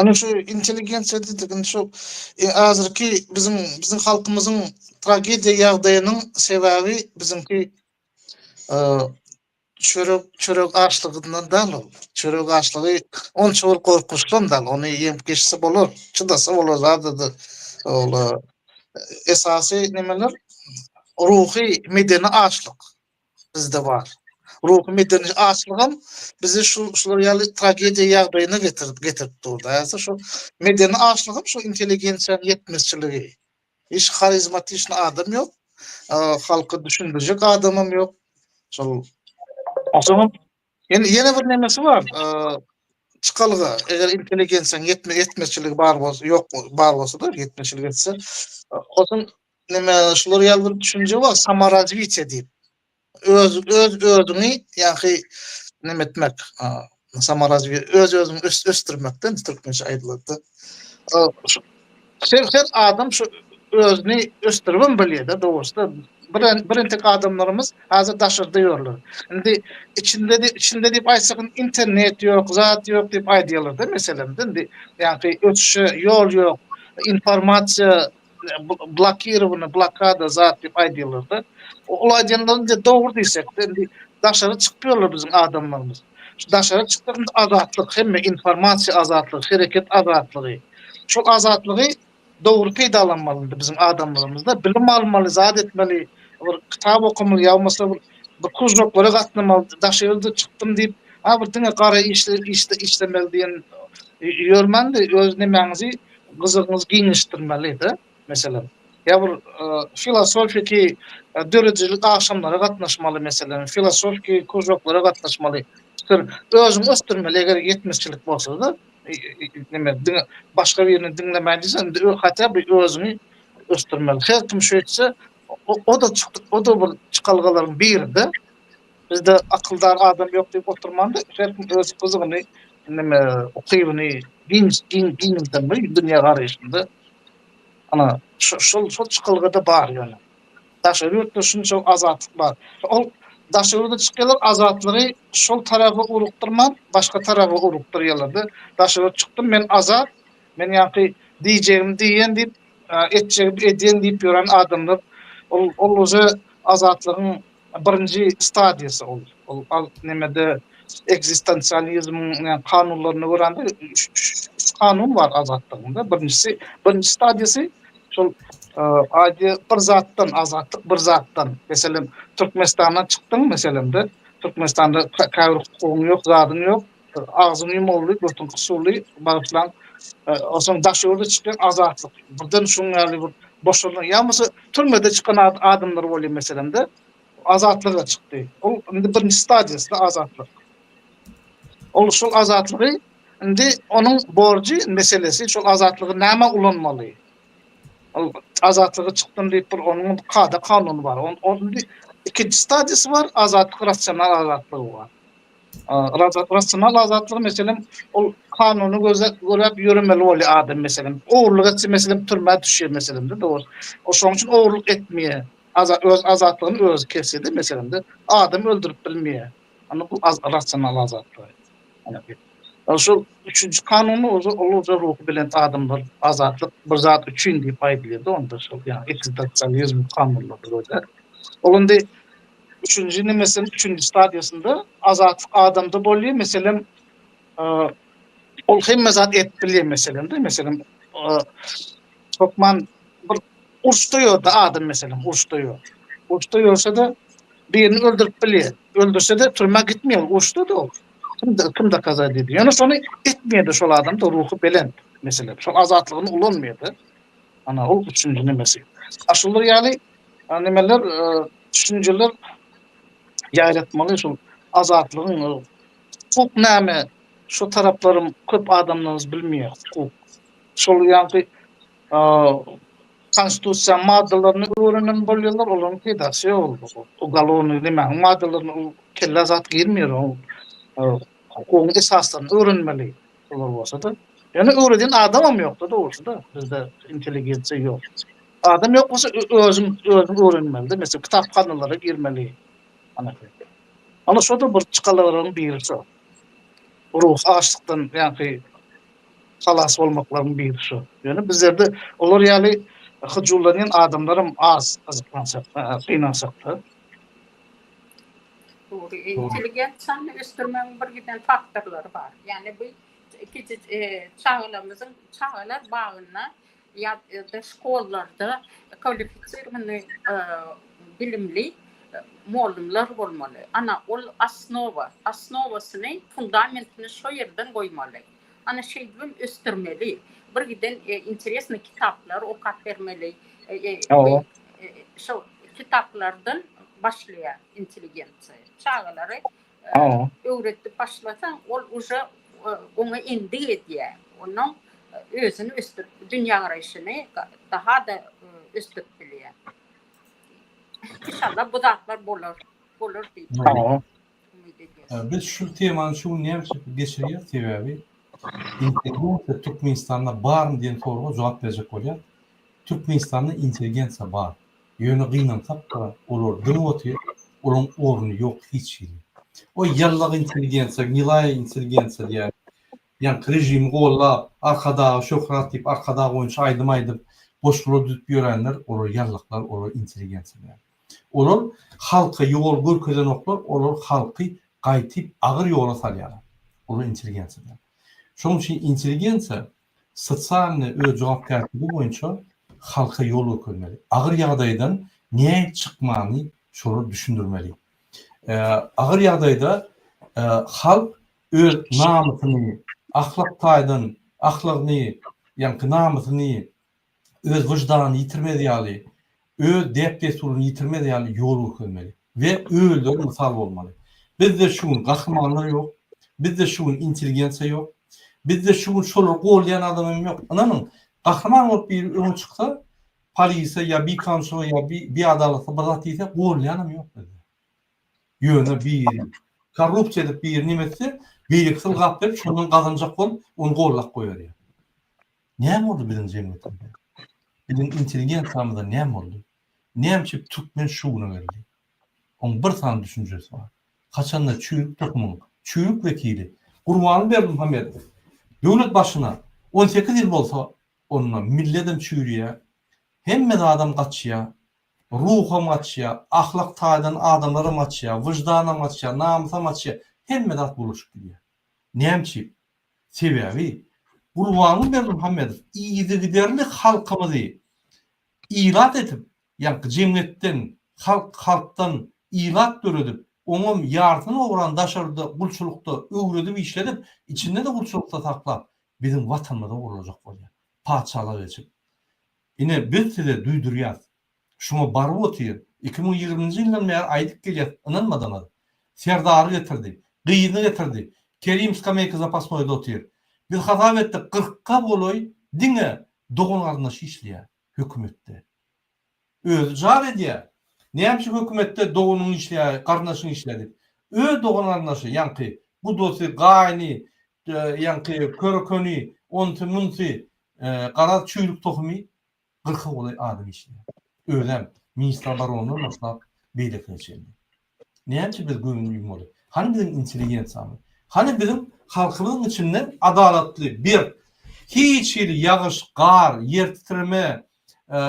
Ana şu intelligensiýa diýdik, indi şu e, azyrky biziň biziň halkymyzyň tragediýa ýagdaýynyň sebäbi biziňki e, çörek çörek açlygyndan dal ol. Çörek açlygy onça bir gorkunçdan dal. Ony ýem geçse bolar, çydasa bolar zadady. Ol e, esasy nemeler ruhy medeni açlyk. bizde bar. Ruhy medeni açlygam bizi şu şular ýaly tragediýa ýagdaýyna getirip getirip durdy. Häzir şu medeni açlygam şu intelligensiýanyň ýetmezçiligi. Hiç harizmatişni adam ýok. Halka düşündirjek adamam ýok. Şol Aşam ýene ýene bir nemesi bar. Çykalga, eger intelligensiýanyň ýetme ýetmezçiligi bar bolsa, ýok bar bolsa-da, ýetmezçilik etse, otuň näme şular ýaly bir düşünje bar samorazwitiýe diýip öz öz özüňi ýaňky näme etmek samorazwiýe öz özüňi ösdürmekden türkmençe aýdylanda her her adam şu özüni ösdüribem bilýärde dogrusyda bir bir entek adamlarymyz häzir daşarda ýörler indi içinde içinde diýip aýtsak internet ýok zat ýok diýip aýdýarlarda meselem indi ýaňky ösüşe ýol ýok informasiýa blokirowany blokada zat diýip aýdýarlarda ol aýdýanlaryny de dogry diýsekde indi daşary çykýarlar biziň adamlarymyz şu daşary çyksak indi azatlyk hemme informasiýa azatlygy hereket azatlygy şol azatlygy dogry peýdalanmaly indi biziň adamlarymyzda bilim almaly zat etmeli bir kitap okamaly ýaumasa bir bir krujoklara gatnamaly daşary ýurda çykdym diýip ha bir diňe gara işle işle işlemeli diýen ýörmän-de öz nemäňizi Gyzygyňyzy giňişdirmeli-de, meselem. Ýa bir filosofiki, döredijilik agşamlara gatnaşmaly, meselem, filosofiki kružoklara gatnaşmaly. Şir, özüňi ösdürmeli, eger ýetmezçilik bolsa-da, neme, diňe başga birini diňlemäýin diýseň, hatda bir özüňi ösdürmeli. Her kim şeýtse, o-da, o-da bir çykalgalaryň biri-de. Bizde akyldar adam ýok diýip oturmanda her kim öz gyzygyny neme ukybyny giň giň giňdemli dünýä garaýşynda ana şo şol şol çykalgada bar ýöne. Daşary ýurtda şunça azatlyk bar. Ol daşary ýurda çykýarlar azatlygy şol tarapa ugrukdyrman başga tarapa ugrukdyrýarlarda. Daşary ýurt çykdym men azat men ýaňky diýjegimi diýýän diýip etjegimi edýän diýip ýören adamlar ol ol uje azatlygyň Birinji stadiýasy ol. Ol al nemede ekzistensializmiň ne kanunlaryna görä-de üç üç kanun bar azatlygyň da. Birinjisi birinji stadiýasy şol aýdy bir zatdan azatlyk bir zatdan. Meselem, Türkmenistandan çykdyň meselem-de. Türkmenistanda käbir hukugyň ýok, zadyň ýok. Agzym ýumuldy, gürtüm gyşuldy, bagyşlaň, soň Daşöwürde çykýan Azatlyk, birden şuň ýaly bir boşalan, ýa bolmasa türmede çykan adamlar bolýar meselem-de, Azatlyga çykdy. Ol indi birinji stadiýasy-da Azatlyk. Ol şol Azatlygy indi onuň borjy meselesi, şol Azatlygy nämä ulanmaly? Ol Azatlyga çykdym diýip bir onuň kada-kanuny bar. Ol indi ikinji stadiýasy bar, Azatlyk rasional Azatlygy bar. Rasional azatlygy meselem ol kanuny gözläp ýöremeli bolýar adam meselem. Ogurlyk etse meselem türmä düşýär meselemde dogry. O şoň üçin ogurlyk etmeýär. Öz azatlygyny özi kesýärdi meselemde. Adam öldürip bilmeýär. Onda bu rasional azatlygy. Ol şu üçünji kanuny ozi ol ozi ruhy belent adamlar azatlyk bir zat üçin diýip aýdylýardy onda şol ýa-da ekzistasiýalizm kanunlary bolýar. Ol indi Üçünji nemesiň üçünji stadiýasynda azatlyk adamda bolýar, meselem, ol hemme zat edip bilýär, meselem-de, meselem, hökman bir uruşda ýörde adam, meselem, uruşda ýör. Uruşda ýörse-de, birini öldürip bilýär. Öldürse-de, türmä gitmeýär, uruşda-da ol. Kim dokaza edýär? Ýöne şony etmeýär-de şol adam-da, ruhy belent, meselem, şol azatlygyny ulanmaýar-da. Ana, ol üçünji nemesi. A şular ýaly Nimeler düşünjeler ýaýratmaly şul azatlygyň hukuk näme şo taraplarym köp adamlarymyz bilmeýär hukuk şol ýaňky konstitusiýanyň maddalaryny öwrenem bolýarlar olaryň peýdasy ýok ol ugalownyý nemäniň maddalaryny ol kellä zat girmeýär ol hukugyň esaslaryny öwrenmeli. Olar bolsa-da, ýöne öwredýän adamam ýokda dogrusyda, bizde intelligensiýa ýok. Adam ýok bolsa özüň özüň öwrenmelide, meselem kitaphanalara girmeli. Ana şoda bir çykalagalaryň biri şo. Ruhy açlykdan ýaňky halas bolmaklaryň biri şo. Ýöne bizlerde olar ýaly hyjuwlanýan adamlaram az gyzyklansak, gynansak-da. Dogry, intelligensiýany ösdürmegiň bir giden faktorlary bar. Ýagny bu kiçi çagalarymyzyň çagalar bagynda ýa-da şkollarda kwalifisirowanyý bilimli mugallymlar bolmaly. Ana, ol osnowa, osnowasyny, fundamentini şo ýerden goýmaly. Ana şeýdibem ösdürmeli. Bir giden interesny kitaplar okap bermeli. Şo kitaplardan başlaýa intelligensiýa. Çagalary öwretip başlasaň, ol uje oňa endik edýä. Onuň özüni ösdürip, dünýä garaýşyny daha-da ösdürip bilýä. Inşallah bu zatlar bolar, bolar diýip. Biz şu temany şu gün näme üçin geçirýäris? Sebäbi intelligensiýa Türkmenistanda barmy diýen soraga jogap berjek bolýar. Türkmenistanda intelligensiýa bar. Ýöne gynansak-da, olar dyňyp otyr, olaryň orny ýok hiç hili. Oý, ýallagy intelligensiýa, gnilaýa intelligensiýa diýýän. Ýaňky režimi gollap, Arkadaga şöhrat diýip, Arkadag boýunça aýdym aýdyp, goşgular düzüp ýörenler, olar ýallaklar, olar intelligensiýa däl. Olar halka ýol görkezenoklar, olar halky gaýtyp agyr ýola salýarlar. Olar intelligensiýa däl. Şonuň üçin intelligensiýa sosialnyý öz jogapkärçiligi boýunça halka ýol görkezmeli. Agyr ýagdaýdan nähili çykmany şolar düşündirmeli. Agyr ýagdaýda halk öz namysyny, ahlak taýdan ahlagyny, ýaňky namysyny öz wyždanyny ýitirmez ýaly, öz däp-dessuryny ýitirmez ýaly ýol görkezmeli we özleri mysal bolmaly. Bizde şu gün gahrymanlar ýok, bizde şu gün intelligensiýa ýok, bizde şu gün şolary goldaýan adam hem ýok. Ynanyň, gahryman bolup biri öňe çyksa, polise ýa bir kanunçylyga ýa bir biadalatly bir zat diýse, goldaýanam ýok bizde. Ýöne biri korrupsiýa edip biri neme etse, beýlekisi ylgap berip, şondan gazanjak bolup, ony goldap goýberýär. Näme boldy biziň jemgyýetimize? Biziň intelligensiýamyza näme boldy? Näme üçin türkmen şu güne geldi? Oň bir sany düşünjesi bar. Haçanda çüýrük tohumyň çüýrük wekili Gurbanguly Berdimuhamedow döwlet başyna on sekiz ýyl bolsa, onda milledem çüýrýär, hemme zadam gaçýar, ruham gaçýar, ahlak taýdan adamlaram gaçýar, wyždanam gaçýar, namysam gaçýar, hemme zat bulaşyp gidýär. Näme üçin? Sebäbi Gurbanguly Berdimuhamedow yzygiderli halkymyzy ilat edip, ýaňky jemgyýetden, halk, halkdan ilat döredip, oňam ýarysyny ogran daşarda gulçulykda öwredip işledip, içinde-de gulçulykda saklap, biziň Watanymyzy ogurlajak bolýar, patyşalyk eçip. Ine, biz size duýdurýarys, Şuňa baryp otyr. Iki müň ýigriminji ýyldan bäri aýdyp gelýäs, ynanmadyňyz. Serdary getirdi. Gyzyny getirdi. Kerim skameýka zapasnoýda otyr. Biz hasap etdik, gyrkga golaý diňe dogan-garyndaşy işleýär hökümetde. Özi jar edýär. Nämüçin hökümetde doganyň işleýär, garyndaşyň işleýär diýip. Öz dogan-garyndaşy, ýaňky bu dosy, gaýyny, ýaňky köri-köni, onsy-munsy, garaz, çüýrük tohumy. Gyrka golaý adam işleýär. Özem, ministr obronydan başlap, beýlekine çenli. Näme üçin biz göwün ýummaly? Hany biziň intelligensiýamyz? Hany biziň halkymyzyň içinden adalatly, berk, hiç hili ýagyş, gar, ýer titreme,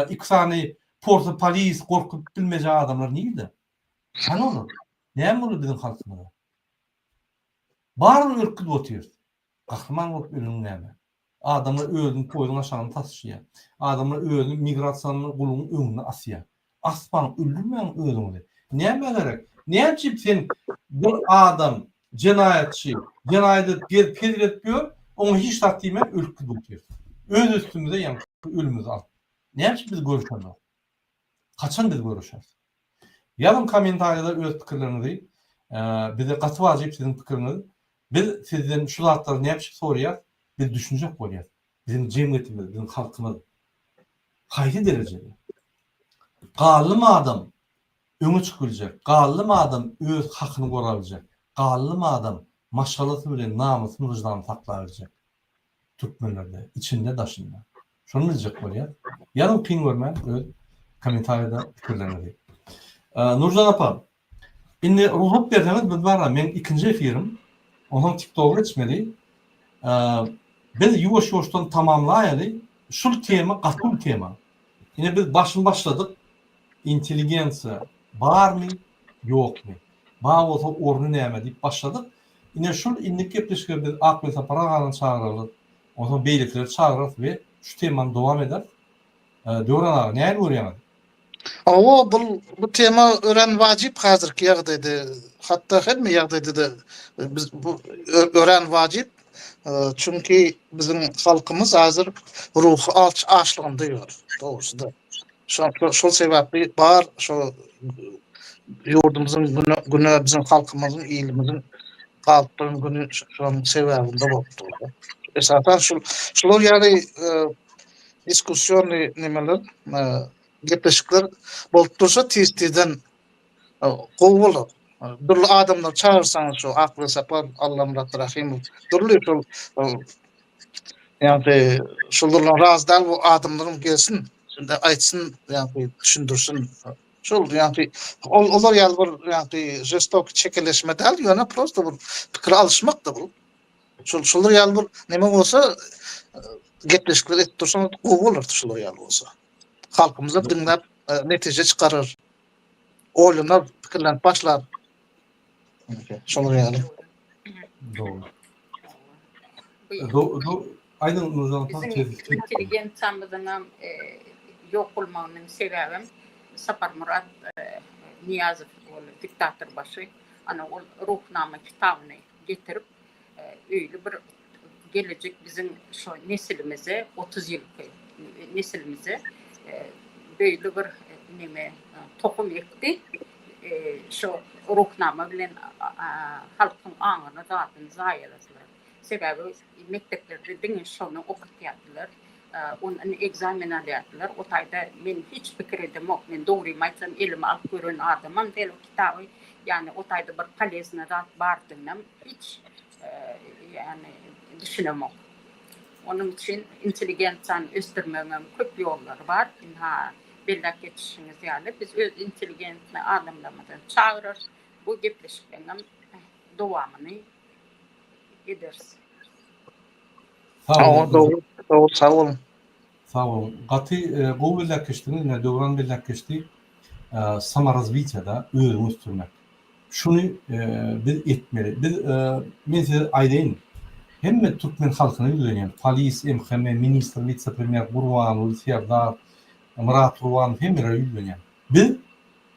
iki sany porsa polis gorkuzyp bilmejek adamlar nirde? Hany olar? Näme boldy biziň halkymyza? Baryny örküzip otyrys. Gahryman bolup ölüň näme? Adamlar özüni poýzuň aşagyna taşyýar. Adamlar özüni migrasiýaly gulugyň öňüne asýar. Asmaň, öldürmäň özüňizi. Nämä gerek? Näme üçin sen bir adam jenaýatçy, jenaýat edip gezip hezil edip ýör, oňa hiç zat diýmän ölüp gidip otyrys. Öz üstümize ýaňky ölümimizi alyp. Näme üçin bizi görüşenok? Haçan biz görüşeris? Ýazyň kommentariýada öz pikirleriňizi bize gaty wajyp siziň pikiriňiz biz sizden şu zatlary näpçik sorýas biz düşünjek bolýas biziň jemgyýetimiz biziň halkymyz haýsy derejede gallym adam öňe çyk biljek gallym adam öz hakyny gora biljek gallym adam maşgalasy bilen namysyny wyždanyny sakla biljek türkmenlerde içinde daşynda. Şony biljek bolýas. Ýazyň kyn görmän öz komentariýada pikirleriňizi. Nurjan apa indi rugsat berseňiz biz bara meň ikinji efirim onsoň tiktoga geçmeli. Biz ýuwaş ýuwaşdan tamamlaýaly şul tema gaty uly tema. Ine biz başyny başladyk intelligensiýa barmy ýokmy bar bolsa orny näme diýip başladyk Ine, şol indik gepleşige biz Akgöz Sapar agany çagyrarys, onsoň beýlekileri çagyrarys we şu temany dowam ederis. Döwran aga, nähili görýäňiz? Hawa, bul, bu tema örän wajyp häzirki ýagdaýda. Hatda hemme ýagdaýda-da biz bu örän wajyp. Çünki biziň halkymyz häzir ruhy aç açlygynda ýör, dogrusu-da. Şol sebäpli bar şu ýurdumyzyň güne biziň halkymyzyň, ilimiziň galyp duran güni şonuň sebäbinde bolup dur. Esasan şular ýaly diskussiýony nemeler, gepleşikler bolup dursa tiz-tizden Gowy bolar. Dürli adamlar çagyrsaňyz şu Akly Sapar, Allamyrat Rahymow, dürli şol ýagny şulardan razy däl bu adamlaryň gelsin, şunda aýtsyn, ýagny düşündirsin. Şol ýagny ol olar ýaly bir ýagny žestok çekeleşme däl, ýöne prosta bir pikir alyşmakdy bu. Şol şular ýaly bir neme bolsa gepleşikler edip dursaňyz gowy bolardy şular ýaly bolsa. Halkymyz hem diňläp netije çykarar. Oýlanar, pikirlenip başlar. Şolar ýaly. Doğru. Do, do, aydın Nurcan Tan Bizim tez. intelligensiýamyzyň hem e, ýok bolmagynyň sebäbem Saparmyrat e, Niýazow ol diktator başy ana ol Ruhnama kitabyny getirip e, öýli bir gelejek biziň şu nesilimize 30 ýylky nesilimize beýle bir neme tohum ekdi. Şu ruhnama bilen halkyň aňyny zadyny zaýaladylar. Sebäbi mekdeplerde diňe şony okatýardylar. Ondan ekzamen alýardylar. O taýda men hiç pikir edemok. Men dogrymy aýtsam elime alyp gören adamam däl o kitaby. Ýagny o taýda bir polezna zat bardygynam hiç Ýagny düşünemok. Onuň üçin intelligensiýany ösdürmegiňem köp ýollary bar. Ynha, belläp geçişimiz ýaly, biz öz intelligentni alymlarymyzy çagyrarys, bu gepleşikleňem dowamyny ederis. Sag boluň, dogry, dogry, sag boluň. Sag boluň. Gaty gowy belläp geçdiňiz. Ine, Döwran belläp geçdi. Samorazwitýada özüňi ösdürmek. Şuny biz etmeli. Biz, men size aýdaýyn, hemme türkmen halkyna ýüzlenýän, polis, MHM, ministr, witse-premýer, Gurbanguly, Serdar, Myrat Gurbanow, hemmelere ýüzlenýän. Biz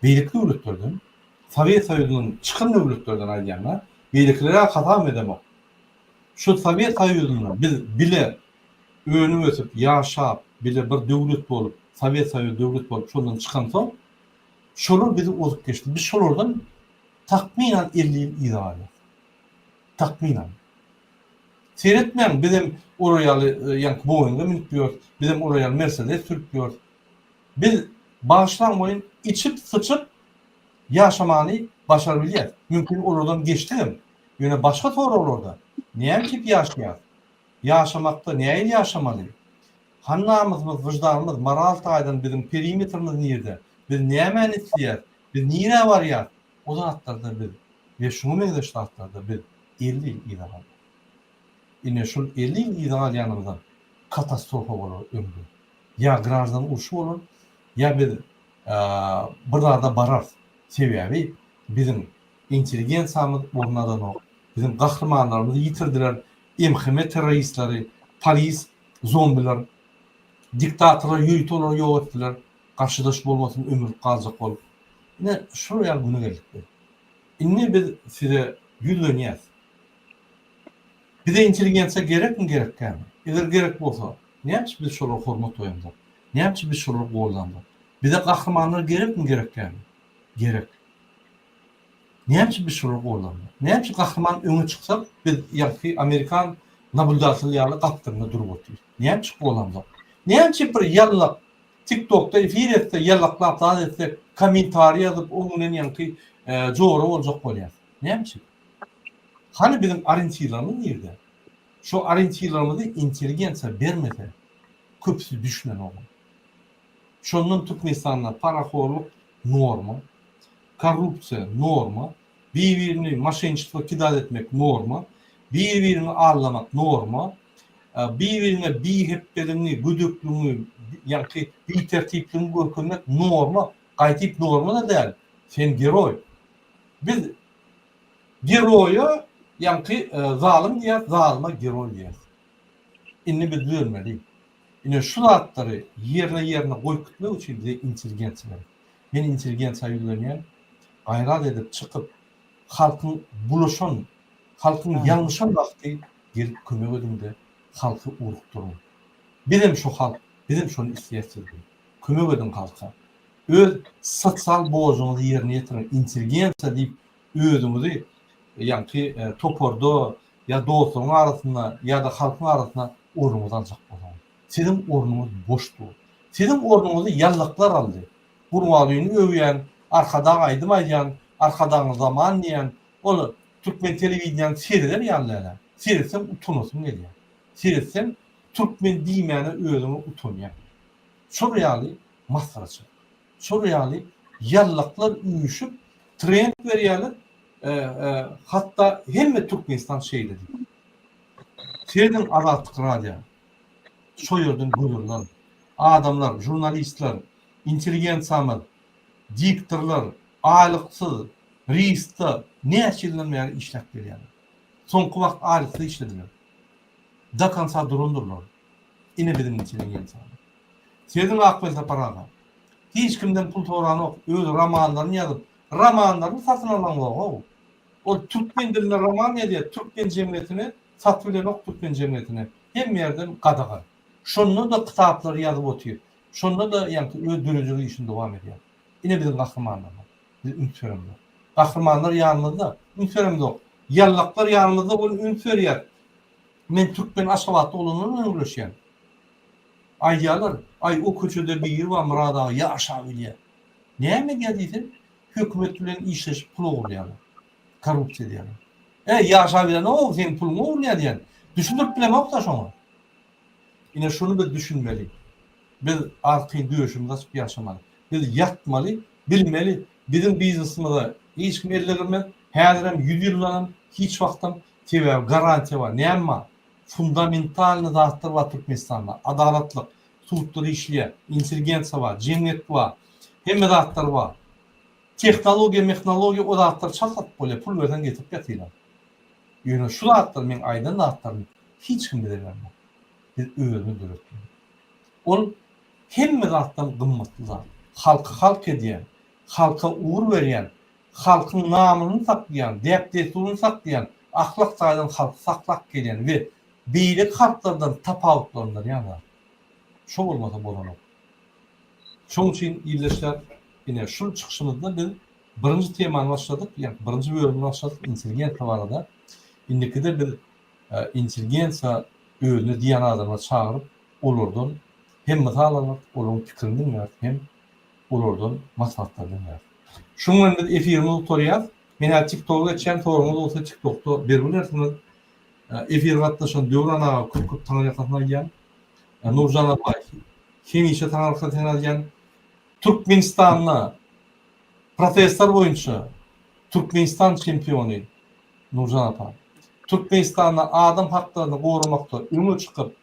beýleki döwletlerden, Sowet Soýuzynyň çykan döwletlerden aýdýan-da, beýlekilere-ä hasabam edemok. Şu Sowet Soýuzynda biz bile Önüp-ösüp, ýaşap, bile bir döwlet bolup, Sowet Soýuzy döwlet bolup şondan çykansoň, şolar bizi ozup geçdi. Biz şolardan takmynan elli ýyl yza galýas. Takmynan. Seretmäň, bizem olar ýaly ýaňky Boeing-e münüp ýörüs, bizem olar ýaly Mersedes sürüp ýörüs. Biz bagyşlaň welin içip-syçyp ýaşamany başarybilýäs. Mümkin olardan geçdigem. Ýöne başga soraglarda, näme üçin ýaşaýas? Ýaşamakda näil ýaşamaly? Hany namysymyz, wyždanymyz, moral taýdan biziň perimetrimiz nirde? Biz nämäni isleýäs? Biz nirä barýas? O zatlarda biz we şuňa meňzeş zatlarda biz elli ýyl yza galýas. Ine şul elli ýyl yza galýanymyzam katastrofa bolar öňde. Ýa graždan urşy bolar, ýa biz bir zada bararys. Sebäbi biziň Intelligensiýamyz ornadanok. Biziň gahrymanlarymyzy ýitirdiler MHM terroristleri, polis zombiler, diktatorlar ýörite olary ýok etdiler, garşydaş bolmasyn ömürlik galjak bolup. Ine şol ýaly güne geldik biz. Indi biz size ýüzlenýäs. Bize intelligensiýa gerekmi gerekgämi? Eger gerek bolsa nämeçe biz şolara hormat goýamzok? Nämeçe biz şolary goldanzok? Bize gahrymanlar gerekmi gerekgämi? Gerek. Näme üçin biz şolar gollanmaly? Näme üçin gahryman öňe çyksa biz ýaňky amerikan nabuldatyly ýaly gapdalynda durup otyrys? Näme üçin gollanmaly? Näme üçin bir ýalňyk tiktokda efir etse ýalňyklap zat etse kommentariý ýazyp oň bilen ýaňky jora boljak bolýas? Näme üçin? Hany biziň orientirlerimiz nirde? Şo orientirlerimizi intelligensiýa bermese köpüsi düşünenok. Şondan Türkmenistanda parahorlyk norma, korrupsiýa norma, bir-birini moşenniçestvo kidal etmek norma, bir-birini aldamak norma, bir-birine bihepdeligiňi, gödekligiňi, ýaňky bitertipligiňi görkezmek norma, gaýdyp norma-da däl, sen geroý. Biz geroýa ýaňky zalym diýýäs, zalyma geroý diýýäs. Indi biz düzelmeli. Ine şu zatlary ýerine ýerine goýup gitmek üçin bize intelligensiýa gerek. Men intelligensiýa ýüzlenýän, gaýrat edip çykyp halkyň bulaşan, halkyň ýalňyşan wagty gelip kömek ediňde halky ugrukdyryň. Bizem şo halk, bizem şony isleýäs sizden. Kömek ediň halka. Öz sosial borjuňyzy ýerine ýetiriň, intelligensiýa diýip özüňizi ýaňky toparda ýa dostlaryň arasynda ýa-da halkyň arasynda ornuňyzy aljak bolsaňyz. Siziň ornuňyz boş dur. Siziň ornuňyzy ýallaklar aldy. Gurbangulyny öwýän, Arkadag aýdym aýdýan, Arkadagyň zaman diýýän, ol türkmen telewideniýäni sereder ýaly dälä. Seretseň utanasyň gelýär. Seretseň türkmen diýmäne özüňi utanýaň. Şol ýaly masgaraçylyk. Şol ýaly ýallaklar üýşüp trend berýärler. Hatda hemme Türkmenistan şeýle diýýär. Sezin Azatlyk radio. Şo ýerden görülen adamlar, žurnalistler, intelligensiýamyz, diktorlar aýlyksyz RIST-da näçe ýyldan bäri işläp gelýärler. Soňky wagt aýlyksyz işlediler. Do konca durandyrlar. Ine biziň içinden ýel çaldy. Sözüň Akpelsapar aga. Hiç kimden pul soranok, öz romanlaryny ýazyp, romanlaryny satyn alanok-ow. Ol türkmen dilinde roman ýazýar, türkmen jemgyýetine satuw edenok türkmen jemgyýetine. Hemme ýerden gadagan. Şonda-da kitaplary ýazyp otyr. Şonda-da ýaňky öz döredijilik işini dowam edýär. Ine biziň gahrymanlarymyz. Biz üns beremzok. Gahrymanlar ýanymyzda, üns beremzok. Ýallaklar ýanymyzda bolup üns berýär. Men Türkmen Aşgabatda olandan bilen gürleşýän. Aýdýarlar, Aý, o köçede biri bar Myrat aga ýaşap ölýär. Näme edýär diýseň, hökümet bilen işleşip pul ogurlaýarlar. Korrupsiýa edýärler. Äý, ýaşap ölýän-ow, seň puluňy ogurlaýar diýýän. Düşündirip bilemok-da şoňa. Ine, şuny biz düşünmeli. Biz artyn döşümizi açyp ýaşamaly. Biz ýatmaly, bilmeli, biziň biznesimize hiç kim ellegirmez, häzirem, ýüz ýyldanam, hiç wagtam Sebäbi garantiýa bar. Näme bar? Fundamentalnyý zatlar bar Türkmenistanda. Adalatlyk, sudlar işleýär, intelligensiýa bar, jemgyýet bar. Hemme zatlar bar. Tehnologiýa, mehnologiýa o zatlary çalt satyp bolýar, pul berseň getirip ýatylar. Ýöne şu zatlar meň aýdan zatlarym hiç kim bize bermez. Biz özümiz döretmeli. Ol hemme zatdan gymmatly zat. Halky halk edýän, halka ugur berýän Halkyň namysyny saklaýan, däp-dessuryny saklaýan, ahlak taýdan halky saklap gelýän we beýleki halklardan tapawutlandyrýan zat. Şo bolmasa bolanok. Şoň üçin ildeşler, ine, şul çykyşymyzda biz birinji temany başladyk, ýa birinji bölümi başladyk intelligensiýa barada. Indikide biz intelligensiýa özüne diýýän adamlary çagyryp, olardan hem mysal almarys, olaryň pikirini diňläris, hem olardan maslahatlar diňlär. Şunuň bilen biz efirimizi gutarýas. Men häzir TikToka geçýän soragyňyz bolsa TikTokda berip bilersiňiz. Efire gatnaşan Döwran aga köp köp taňyrýakasyn aýdýan. Nurjan apa hemişe taňyrýakasyn aýdýan. Türkmenistanda protestler boýunça Türkmenistan çempiony Nurjan apa. Türkmenistanda adam haklaryny goramakda öňe çykyp